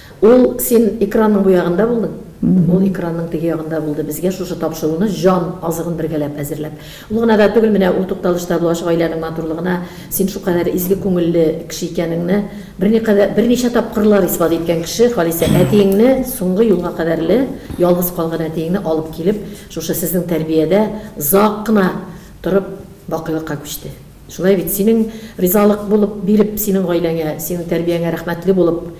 Ул син
экранның бу ягында булдың, ул экранның теге ягында булды, безгә шушы тапшыруны җан азыгын бергәләп әзерләп. Ул гына да түгел, менә ул тукталышта булачак гаиләнең матурлыгына син шукадәр изге күңелле кеше икәнеңне берникадәр, берничә тапкырлар исбат иткән кеше Халисә әтиеңне соңгы юлга кадәрле ялгыз калган әтиеңне алып килеп шушы сезнең тәрбиядә озак кына торып бакыйлыкка күчте. Шулай бит, синең ризалык булып биреп, синең гаиләңә, синең тәрбияңә рәхмәтле булып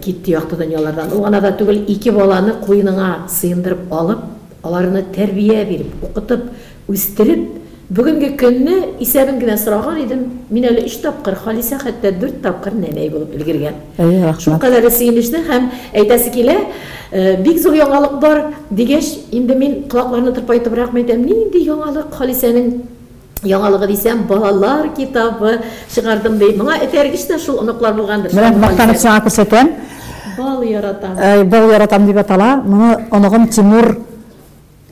китте якты дөньялардан. Ул гына да түгел, ике баланы куеныңа сыендырып алып, аларны тәрбия биреп, укытып, үстереп, бүгенге көнне исәбен генә сораган идем, мин әле өч тапкыр, Халисә хәтта дүрт тапкыр нәнәй булып өлгергән. Әйе, рәхмәт. Шулкадәр дә сөенечле һәм әйтәсе килә, бик зур яңалык бар, дигәч, инде мин колакларны тырпайтыбракмы әйтәм, нинди яңалык, Халисәнең. Яңалыгы дисәм, балалар китабы чыгардым ди. Моңа этәргеч тә шул оныклар булгандыр. Менә мактанып сиңа
күрсәтәм. Бал
яратам. Әй, бал яратам дип
атала. Моны оныгым Тимур,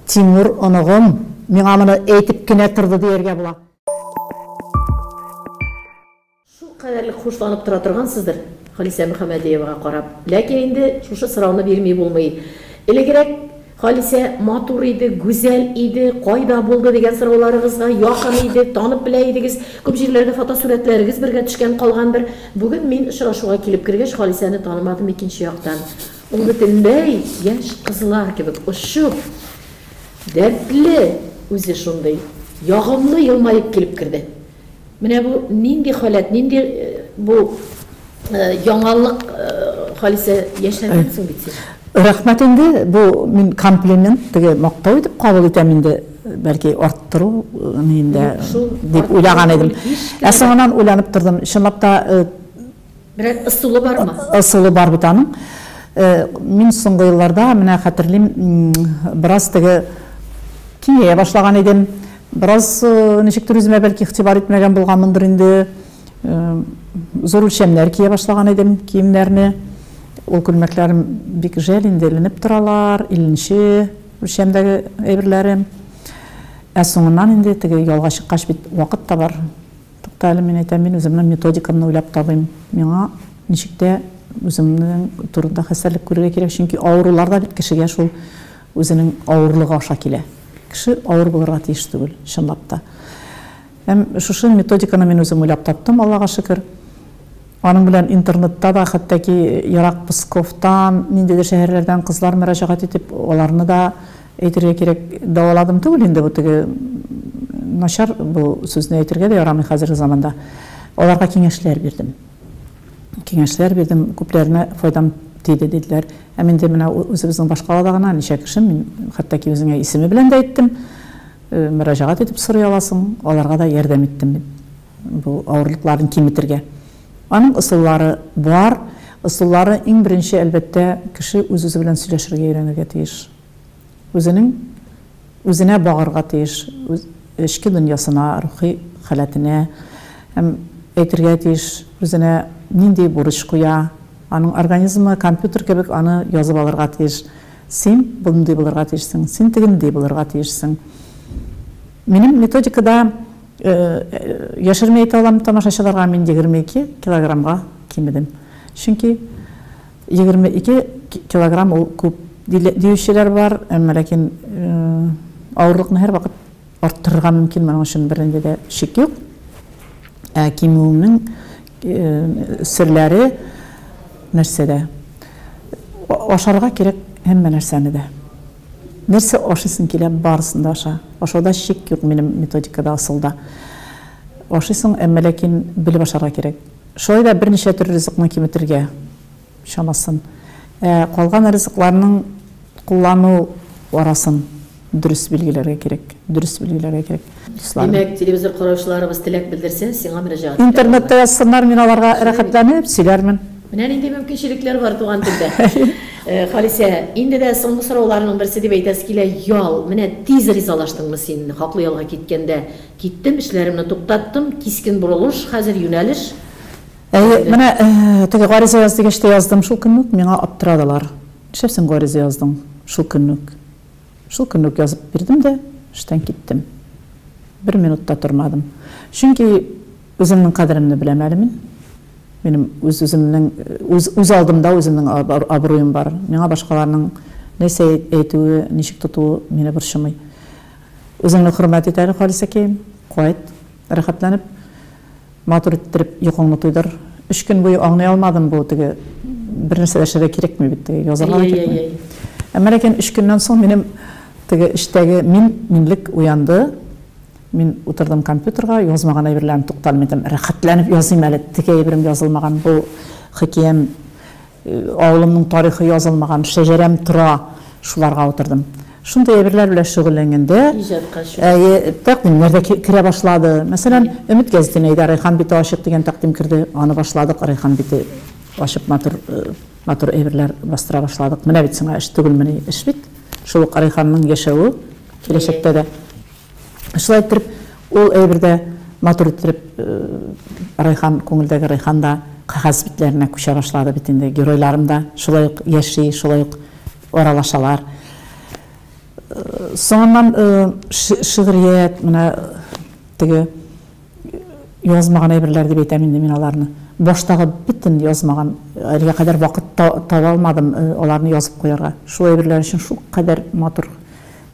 Тимур оныгым миңа моны әйтеп кенә торды дияргә була. Шул кадәрлек хушланып
тора торгансыздыр, Халисә Мөхәммәдиевага карап. Ләкин инде шушы сорауны бирми булмый. Элегрәк Халисә матур иде, гүзәл иде, кайда булды дигән сорауларыгызга, якын иде, танып белә идегез, күп җирләргә фотосурәтләрегез бергә төшкән калгандыр. Бүген мин очрашуга килеп кергәч, Халисәне танымадым икенче яктан. Ул бөтенләй яшь кызлар кебек очып, дәртле, үзе шундый ягымлы елмаеп килеп керде. Менә бу нинди халәт, нинди бу яңалык, Халисә, яшәдең соң бит син? Рәхмәт инде,
бу мин комплимент, теге мактау итеп кабул итәм инде, бәлки арттыру ниендә дип уйлаган идем. Ә соңыннан уйланып тордым, чынлап та,
Берәр ысулы бармы? Ысулы бар бит аның.
Мин соңгы елларда, менә хәтерлим, бераз теге киңәя башлаган идем. Бераз ничектер үземә бәлки игътибар итмәгән булганмындыр инде. Зур үлчәмнәр кия башлаган идем киемнәрне. Ул күлмәкләрем бик жәл инде, эленеп торалар, илленче үлчәмдәге әйберләрем. Ә соңыннан инде теге ялга чыккач бит вакыт та бар. Тукта әле, мин әйтәм, мин үземнең методикамны уйлап табыйм. Миңа ничек тә үземнең турында хәстәрлек күрергә кирәк, чөнки авырулар да бит кешегә шул үзенең авырлыгы аша килә. Кеше авыр булырга тиеш түгел, чынлап та. Һәм шушы методиканы мин үзем уйлап таптым, Аллага шөкер. Аның белән интернетта да, хәтта ки Ерак Псковтан, ниндидер шәһәрләрдән кызлар мөрәҗәгать итеп, аларны да, Әйтергә кирәк, дәваладым түгел инде, бу теге начар, бу сүзне әйтергә дә ярамый хәзерге заманда. Аларга киңәшләр бирдем. Киңәшләр бирдем, күпләренә файдам тиде, диделәр. Һәм инде менә үзебезнең башкалада гына ничә кеше, мин хәтта ки үзеңә исеме белән дә әйттем, мөрәҗәгать итеп сорый аласың, аларга да ярдәм иттем мин бу авырлыкларын киметергә. Аның ысуллары бар. Ысуллары иң беренче, әлбәттә, кеше үз-үзе белән сөйләшергә өйрәнергә тиеш. Үзенең үзенә багарга тиеш, үз эчке дөньясына, рухи халәтенә һәм әйтергә тиеш, үзенә нинди бурыч куя. Аның организмы компьютер кебек аны язып алырга тиеш. Син мондый булырга тиешсең, син тегенди булырга тиешсең. Минем методикада яшерми әйтә алам тамашачыларга, мин 22 килограммга кимедем. Чөнки. Егерме ике килограмм ул күп диючеләр бар, әмма ләкин авырлыкны һәрвакыт арттырырга мөмкин, моның өчен бернинди дә шик юк. Ә кимүеңнең серләре нәрсәдә? Ашарга кирәк һәммә нәрсәне дә. Нәрсә ашыйсың килә, барысын да аша. Ашауда шик юк минем методикада, асылда. Ашыйсың, әмма ләкин белеп ашарга кирәк. Шулай да берничә төр ризыкны киметергә чамасын, ә калган ризыкларның куллану арасын дөрес билгеләргә кирәк, дөрес билгеләргә кирәк. Дусларым. Димәк,
телевизор караучыларыбыз теләк белдерсә, сиңа мөрәҗәгать итә алалар. Интернетта язсыннар,
мин аларга рәхәтләнеп сөйләрмен. Менә нинди
мөмкинчелекләр бар туган телдә. Халисә, инде дә соңгы сорауларның берсе дип әйтәсе килә, ял. Менә тиз ризалаштыңмы син хаклы ялга киткәндә? Киттем, эшләремне туктаттым, кискен борылыш, хәзер юнәлеш. Әйе, менә
теге гариза яз дигәч тә яздым, шул көнне үк миңа аптырадылар. Нишләп син гариза яздың шул көнне үк? Шул көнне үк язып бирдем дә, эштән киттем. Бер минут та тормадым. Чөнки үземнең кадеремне беләм әле мин. Минем үз-үземнең, үз алдымда үземнең абруем бар. Миңа башкаларның нәрсә әйтүе, ничек тотуы мине борчымый. Үзеңне хөрмәт ит әле, Халисәкәем. Кайт, рәхәтләнеп, матур иттереп йокыңны туйдыр. Өч көн буе аңлый алмадым, бу теге бернәрсә дә эшләргә кирәкми бит, теге язарга да кирәкми. Әй-әй-әй-әй. Әмма ләкин өч көннән соң минем теге эчтәге мин, минлек уянды. Мин утырдым компьютерга, язмаган әйберләрне тукталмыйдым, рәхәтләнеп языйм әле, теге әйберем язылмаган, бу хикәям. Авылымның тарихы язылмаган шәҗәрәм тора, шуларга утырдым. Шундый әйберләр белән шөгыльләнгәндә, әйе, тәкъдимнәр дә керә башлады. Мәсәлән, Өмет гәзитенә әйдә, Рәйхан бите ачык дигән тәкъдим керде. Аны башладык, Рәйхан бите ачып матур, матур әйберләр бастыра башладык. Менә бит сиңа эш түгелмени, эш бит. Шул ук Рәйханның яшәве киләчәктә дә. Шулай иттереп, ул әйбер дә матур иттереп Райхан, күңелдәге Райхан да кәгазь битләренә күчә башлады бит инде. Геройларым да шулай ук яши, шулай ук аралашалар. Соңыннан шигърият, менә теге язмаган әйберләр дип әйтәм инде мин аларны. Баштагы бөтен язмаган, әлегә кадәр вакыт таба алмадым аларны язып куярга. Шул әйберләр өчен шул кадәр матур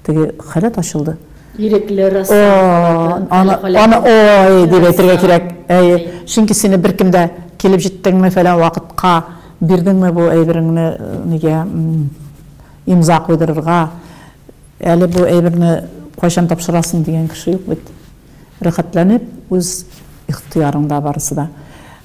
Теге халәт ачылды. Ирекле рәссам халәте. Аны ой дип әйтергә кирәк. Әйе. Чөнки сине беркем дә килеп җиттеңме, фәлән вакытка бирдеңме бу әйбереңне нигә имза куйдырырга, әле бу әйберне кайчан тапшырасың дигән кеше юк бит. Рәхәтләнеп, үз ихтыярыңда барысы да.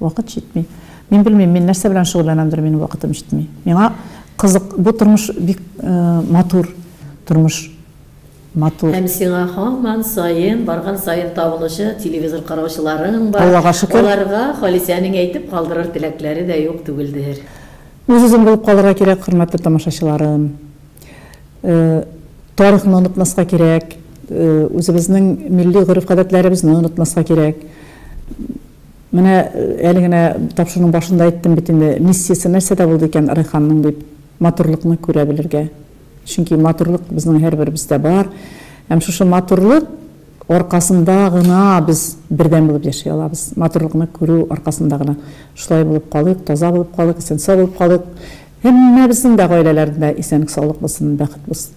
Вакыт җитми. Мин белмим, мин нәрсә белән шөгыльләнәмдер, минем вакытым җитми. Миңа кызык, бу тормыш бик матур, тормыш матур. Һәм сиңа
һаман саен, барган саен табылучы телевизор караучыларың бар. Аллага шөкер. Аларга
Халисәнең
әйтеп калдырыр теләкләре дә юк түгелдер. Үз-үзем булып
калырга кирәк, хөрмәтле тамашачыларым. Тарихны онытмаска кирәк, үзебезнең милли гореф-гадәтләребезне онытмаска кирәк. Менә әле генә тапшыруның башында әйттем бит инде, миссиясе нәрсәдә булды икән Райханның дип, матурлыкны күрә белергә. Чөнки матурлык безнең һәрберебездә бар. Һәм шушы матурлык аркасында гына без бердәм булып яши алабыз. Матурлыкны күрү аркасында гына. Шулай булып калыйк, таза булып калыйк, исән-сау булып калыйк. Һәммәбезнең дә гаиләләрендә исәнлек-саулык булсын, бәхет булсын.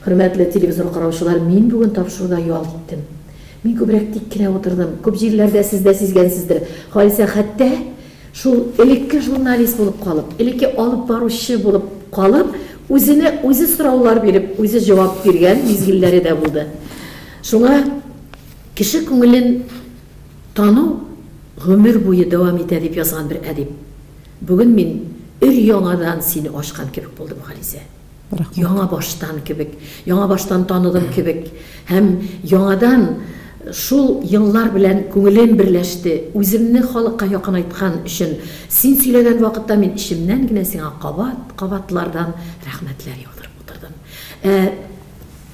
Хөрмәтле
телевизор караучылар, мин бүген тапшыруда ялт иттем. Мин күбрәк тик кенә утырдым. Күп җирләрдә сез дә сизгәнсездер, Халисә хәтта шул элекке журналист булып калып, элекке алып баручы булып калып, үзенә үзе сораулар биреп, үзе җавап биргән мизгелләре дә булды. Шуңа кеше күңелен тану гомер буе дәвам итә, дип язган бер әдип. Бүген мин өр-яңадан сине ачкан кебек булдым, Халисә. Яңа баштан кебек, яңа баштан таныдым кебек һәм яңадан шул еллар белән күңелем берләште. Үземне халыкка якынайткан өчен син сөйләгән вакытта мин эчемнән генә сиңа кабат, кабатлардан рәхмәтләр яудырып утырдым. Ә.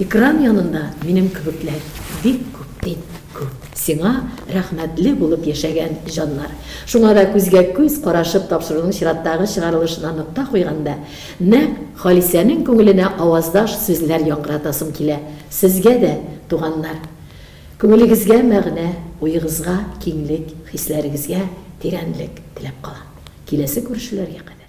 Экран янында минем кебекләр бик күп бит, күп. Сиңа рәхмәтле булып яшәгән җаннар. Шуңа да күзгә-күз карашып тапшыруның чираттагы чыгарылышына нокта куйганда, нәкъ Халисәнең күңеленә аваздаш сүзләр яңгыратасым килә, Сезгә дә, туганнар! Күңелегезгә мәгънә, уегызга киңлек, хисләрегезгә тирәнлек теләп калам. Киләсе күрешүләргә кадәр.